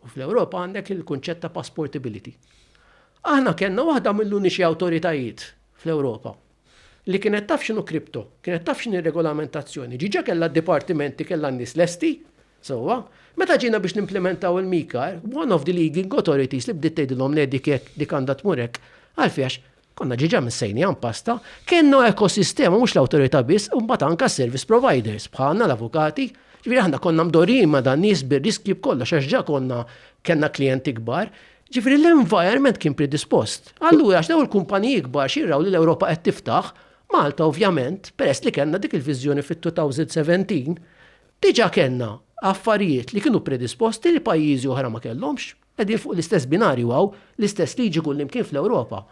U fl-Ewropa għandek il-kunċett ta' passportability. Aħna kellna waħda mill-uniċi awtoritajiet fl-Ewropa li kienet taf x'inhu kripto, kienet taf x'inhi regolamentazzjoni. Ġiġa kellha dipartimenti kellha n-nies lesti, sewwa, meta ġina biex nimplementaw il-mikar, one of the leading authorities li bdiet tgħidilhom le dik hekk, dik għandha tmur hekk, għalfiex Konna ġiġa missejnija mpasta, kellna ekosistema mhux l-awtorità biss u mbagħad anke s-service providers bħalna l-avukati, ġifieri aħna konna mdorrijin ma' dan nies bir-riskji b'kollox għax ġa konna kellna klijenti kbar, ġifieri l-environment kien predispost. Allura għax dawn il-kumpaniji kbar xi jraw li l-Ewropa qed tiftaħ, Malta ovvjament, peress li kellna dik il-viżjoni fit-2017, diġa kellna affarijiet li kienu predisposti li pajjiżi oħra ma kellhomx. Qegħdin fuq l-istess binarju hawn, l-istess liġi kullimkien fl-Ewropa.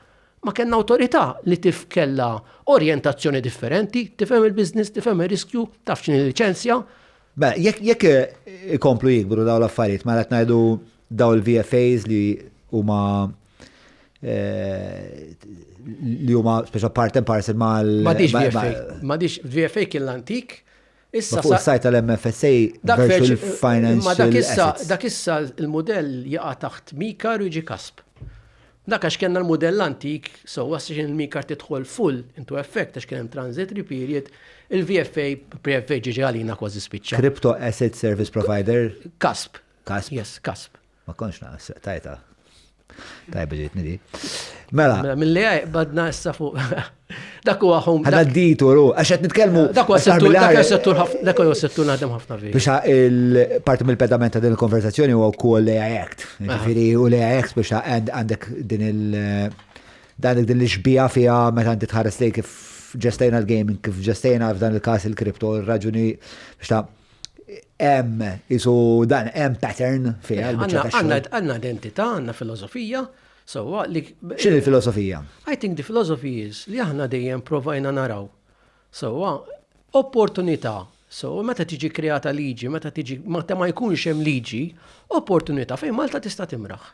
Ma kellna awtorità li tif kellha orjentazzjoni differenti, tifhem il-business, tifhem ir-riskju, taf x'inhi liċenzja. Mela, jekk ikomplu jikbru dawn l-affarijiet, mela qed ngħidu daw il-VFAs li huma eh, li huma speċa part and parcel mal. Madix VFA. Madix VFA kien l-antik Issa fuq is-sajt tal-MFSA Virtual Financial Assets. Dak issa l-mudell jaqa' taħt MiCAR u jiġi CASP. Dak għax kellna l-mudell antik, so għax il-MiCAR tidħol full into effect għax kien hemm transitory period, il-VFA, pre-FA ġiġi għalina kważi spiċċa. Crypto Asset Service Provider. CASP. CASP. Yes, CASP. Ma konx naqas, tajta. Tajba ġejtni di. Mela. mela Mill-li badna issa fuq. Dak huwa home. Għadda d-ditu, ru, għax qed nitkellmu. Dak huwa settur, dak huwa settur ħafna, dak huwa settur naħdem ħafna fi. Biex il-parti mill-pedament ta' din il-konversazzjoni huwa wkoll l AI Act. Ġifieri u l AI Act biex għandek din il- dan din l-xbija fiha meta inti tħares lej kif ġestejna l-gaming, kif ġestejna f'dan il-każ il-kripto, ir-raġuni biex ta' Hemm isu dan hemm pattern fiha eh, l-biċċa tax-xogħol. Għandna identità, għandna filosofija, sewwa li X'in il-filosofija? I think the philosophy is li aħna dejjem provajna naraw. Sewwa opportunità So, meta tiġi kreata liġi, meta tiġi, meta ma jkunx hemm liġi, opportunità fejn Malta tista' timraħ.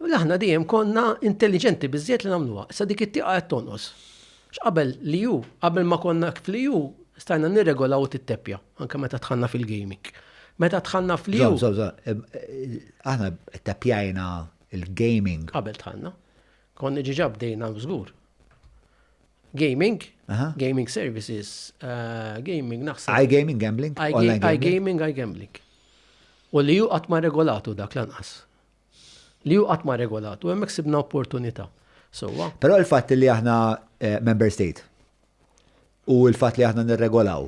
Mela aħna dejjem konna intelligenti biżjed li nagħmluha. Sa dik it-tieqa qed tonqos. X'qabel li ju, qabel ma konna fli ju, stajna nirregolaw it-teppja, anke meta tħanna fil-gaming. Meta tħanna fli ju. Aħna teppjajna il-gaming. Qabel tħanna. Konni ġiġa bdejna żgur. Gaming, gaming services, eh, gaming naħseb. I gaming, gambling. I gaming, I gambling. U li hu qatt ma regolatu dak lanqas. Li hu qatt ma regolatu, hemmhekk sibna opportunità. Sewwa. Però l-fatt li aħna eh, member state u l-fatt li aħna nirregolaw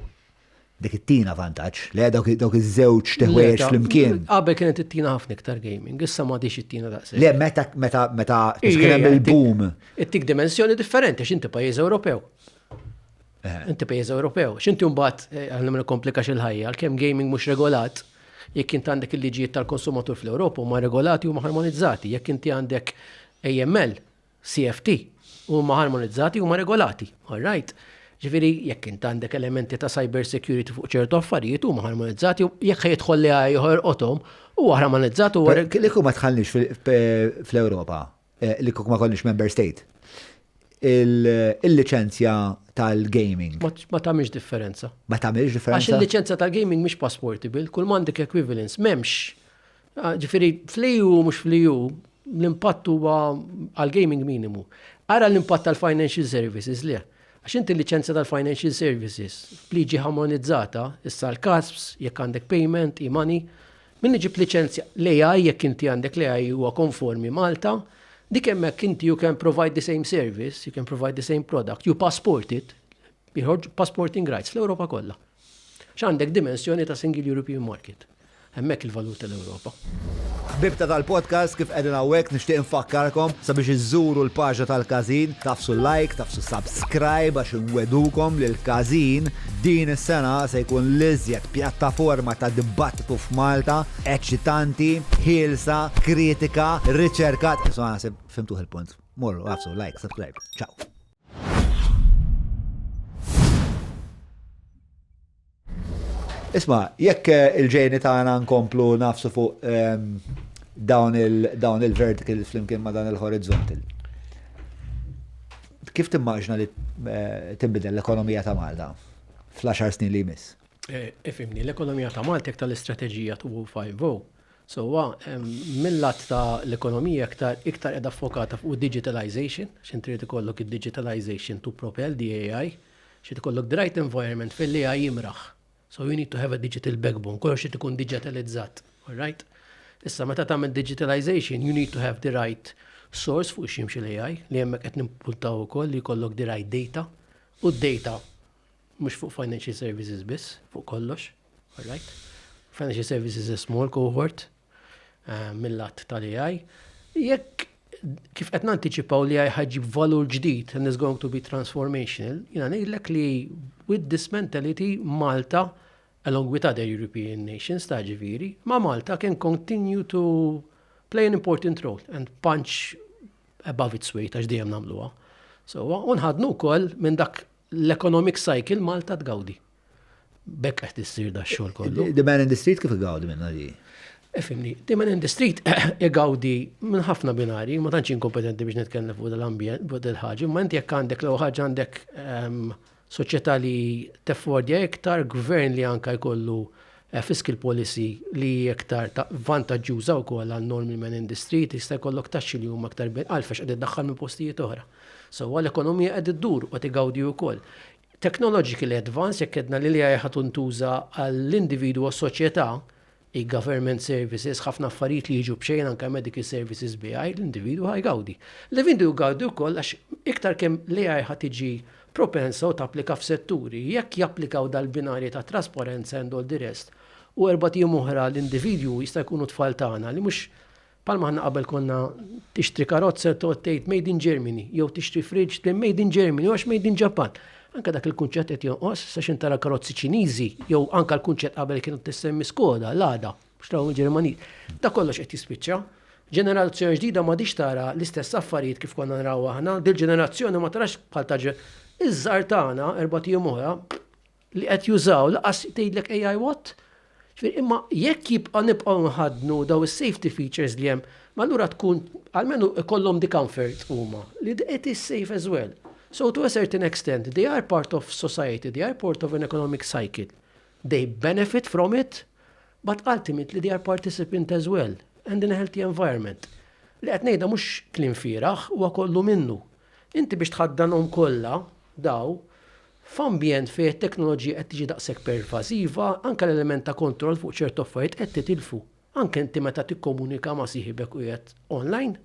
dik it-tina vantaġġ li dawk dawk iż-żewġ teħwejjex flimkien. Qabel kienet it-tina ħafna iktar gaming, issa ma dix it-tina daqshekk. Le meta meta meta kien hemm il-boom. Ittik dimensjoni differenti x'inti pajjiż Ewropew. Inti pejjeż Ewropew, x'inti mbagħad għal ma nikkomplikax il-ħajja, għalkemm gaming mhux regolat, jekk inti għandek il-liġijiet tal-konsumatur fl-Ewropa huma regolati huma harmonizzati, jekk inti għandek AML, CFT, huma harmonizzati huma regolati, all right? Ġifieri jekk inti għandek elementi ta' cyber security fuq ċertu affarijiet huma harmonizzati jekk jidħol li ieħor qothom huwa harmonizzat huwa. Li kum ma tħallniex fl-Ewropa Eh, li kuk ma konniex member state. Il-licenzja tal-gaming. Ma tamiex differenza. Ma tamiex differenza. Għax il-licenzja tal-gaming mhix passportable, kull mandik equivalence, memx. Ah, ġifiri, fliju mux fliju, l-impatt huwa għal-gaming minimu. Ara l-impatt tal-financial services li Għax inti l-licenzja tal-financial services, liġi harmonizzata, issa l-kasps, jekk għandek payment, e-money, Min iġib liċenzja l-AI jekk inti għandek l-AI huwa konformi Malta, dik hemmhekk inti you can provide the same service, you can provide the same product, you passport it, jħorġu passporting rights fl-Ewropa kollha. X'għandek dimensjoni ta' Single European Market. Hemmhekk il-valur tal-Ewropa. Ħbibta tal-podcast kif qegħdin hawnhekk nixtieq infakkarkom sabiex iżżuru l-paġna tal-każin, tafsu like, tafsu subscribe għax inwedukom li l-każin Din is-sena se jkun l-iżjed pjattaforma ta' dibattitu f'Malta, eċċitanti, ħielsa, kritika, riċerkat. Insomma naħseb fhimtuh il-punt. Morru, għafsu, like, subscribe. Ciao. Isma, jekk eh, il-ġejni tagħna nkomplu nafsu fuq ehm, dawn il-vertical flimkien ma' dan il-horizontal. Kif timmaġna li tinbidel l-ekonomija ta' Malta fl-għaxar snin li jmiss? Ifhimni, l-ekonomija ta' Malta jekk tal-istrateġija 2050, sewwa mill-lat ta' l-ekonomija iktar qiegħda ffokata fuq id-digitalization, x'int trid ikollok id-digitalization to propel the AI, x'qed ikollok the right environment fejn l-AI jimraħ. So you need to have a digital backbone, kollox irid ikun digitalizzat, all right? Issa meta tagħmel digitalization, you need to have the right source fuq ximx l-AI li hemmhekk qed nimpuntaw ukoll li jkollok the right data u d-data mhux fuq financial services biss, fuq kollox, all right? Financial services is small cohort, eh, mill-att tal-AI. Jekk kif qed nantiċipaw li ħajġib valur ġdid and is going to be transformational, jina ngħidlek li with this mentality Malta along with other European nations ta' ġiviri, ma' Malta can continue to play an important role and punch above its weight għax dejjem nagħmluha. So, unħadnu wkoll minn dak l-economic cycle Malta tgawdi. Bekk qed issir da xogħol kollu. The man in the street kif igawdi minna di? Efimni, the man in the street igawdi minn ħafna binari, ma tantx inkompetenti biex nitkellem fuq l-ambjent, fuq il-ħaġa, ma inti jekk għandek l ħaġa għandek ehm, soċjetà li teffordja iktar, gvern li anka jkollu eh, fiscal policy li iktar vantaġġuża wkoll għal normi man in the street, jista' jkollok taxxi li huma aktar għalfex qed iddaħħal minn postijiet oħra. So għal ekonomija qed iddur u qed igawdi wkoll. Technologically advanced, jekk għedna li l-AI ħa tintuża għall-individwu u s-soċjetà, e-government services, ħafna affarijiet li jiġu b'xejn anke medical services b'AI, l-individwu ħa jgawdi. L-individwu jgawdi wkoll għax iktar kemm l-AI ħa tiġi propensa u tapplika f'setturi, jekk japplikaw dal-binarji ta' trasparenza and all the rest, u erbat ijiem oħra l-individwu jista' jkunu t-tfal tagħna li mhux Bħal ma aħna qabel konna tixtri karozza toqgħod tgħid made in Germany, jew tixtri fridge tgħid made in Germany, għax made in Ġappan. Anka dak il-kunċett qed jonqos, sa xi tara karozzi Ċiniżi, jew anka l-kunċett qabel kienu tissemmi Skoda, Lada, mhux trawhom il-Ġermaniż. Da kollox qed jispiċċa. Ġenerazzjoni ġdida m'għadix tara l-istess affarijiet kif konna nraw aħna, dil-ġenerazzjoni ma tarax bħal ta' iż-żgħar tagħna erbgħat ijiem oħra, li qed jużaw lanqas tgħidlek AI what? Ġifieri imma jekk jibqa' nibqgħu nħaddnu dawn is-safety features li hemm, ma allura tkun almenu ikollhom the comfort huma li it is safe as well. So to a certain extent, they are part of society, they are part of an economic cycle. They benefit from it, but ultimately they are participant as well and in a healthy environment. Li qed ngħidha mhux kliem fieragħ, huwa kollu minnu. Inti biex tħaddanhom kollha, daw, f'ambjent fejn it-teknoloġija qed tiġi daqshekk pervażiva, anke l-element ta' kontroll fuq ċertu affarijiet qed titilfu. Anke inti meta tikkomunika ma' sieħibek u qiegħed online,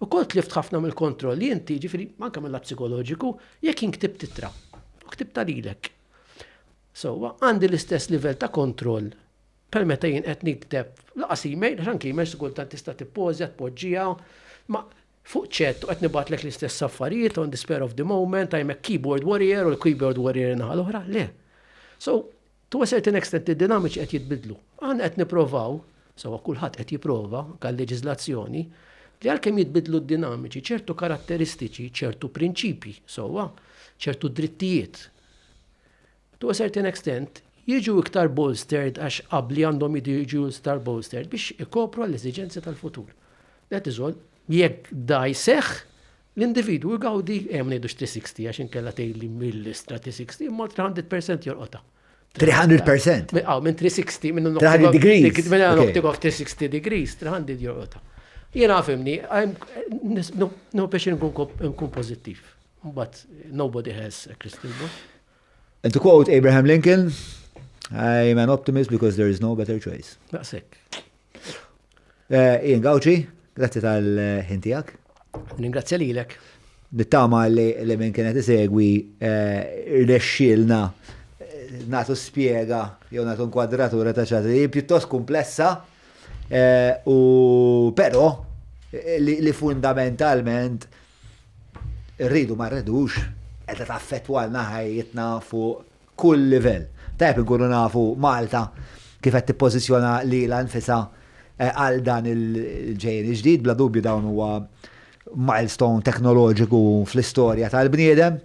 ukoll tlift ħafna mill-kontrolli inti, jiġifieri anke mil-lat psikoloġiku, jekk jien ktibt ittra, u ktibtha lilek. Sewwa, għandi l-istess livell ta' kontroll bħal meta jien qed nikteb, lanqas email, għax anke email xi kultant tista' tippożja, tpoġġiha, ma Fuq chat u qed nibgħatlek l-istess affarijiet on the spare of the moment, I'm a keyboard warrior u l-keyboard warrior in-naħa l-oħra, le. So, to a certain extent id-dinamiċi qed jitbiddlu. Aħna qed nipprovaw, sewwa kulħadd qed jipprova, anke għal-leġiżlazzjoni, li għalkemm jitbiddlu d-dinamiċi, ċertu karatteristiċi, ċertu prinċipji, sewwa, ċertu drittijiet, To a certain extent, jiġu iktar bolstered għax qabli għandhom jiġu iktar bolstered biex ikopru għall-eżiġenzi tal-futur. That is all. Jekk da jseħħ, l-individwu jgawdi, hemm ngħidu 360 għax inkella tgħidli mill-istra 360 imma 300% jorqota. 300%? Aw, minn 360, minn 300 degrees. Minn noktik of 360 degrees, 300 jorqota. Jena għafimni, no biex nkun pozittiv. But nobody has a crystal ball. And to quote Abraham Lincoln, I am an optimist because there is no better choice. Daqsek. Eh, Ian Gauci, grazzi tal-ħintijak. Ningrazzja li l-ek. Nittama li li minn kienet isegwi eh, rnexxilna eh, natu spiega jew natu nkwadratura ta' ċaħġa li pjuttost komplessa eh, u però eh, li, li fundamentalment Irridu ma rridux, qiegħda taffettwalna ħajjitna fuq kull livell. Tajjeb inkunu nafu Malta kif qed tippożizzjona lilha nfisha għal dan il-ġejjieni ġdid. Bla dubju dawn huwa milestone teknoloġiku fl-istorja tal-bniedem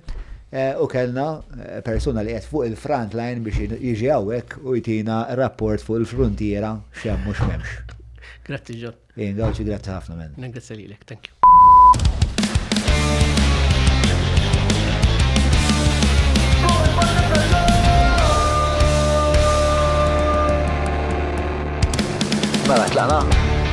u kellna persuna li qiegħed fuq il-front line biex jiġi hawnhekk u jtina rapport fuq il-fruntiera x'hemm u x'm'hemmx. Grazzi John. Ejn Gawci grazzi ħafna men. Ningrazzja lilek, thank you. Mela tlaqna.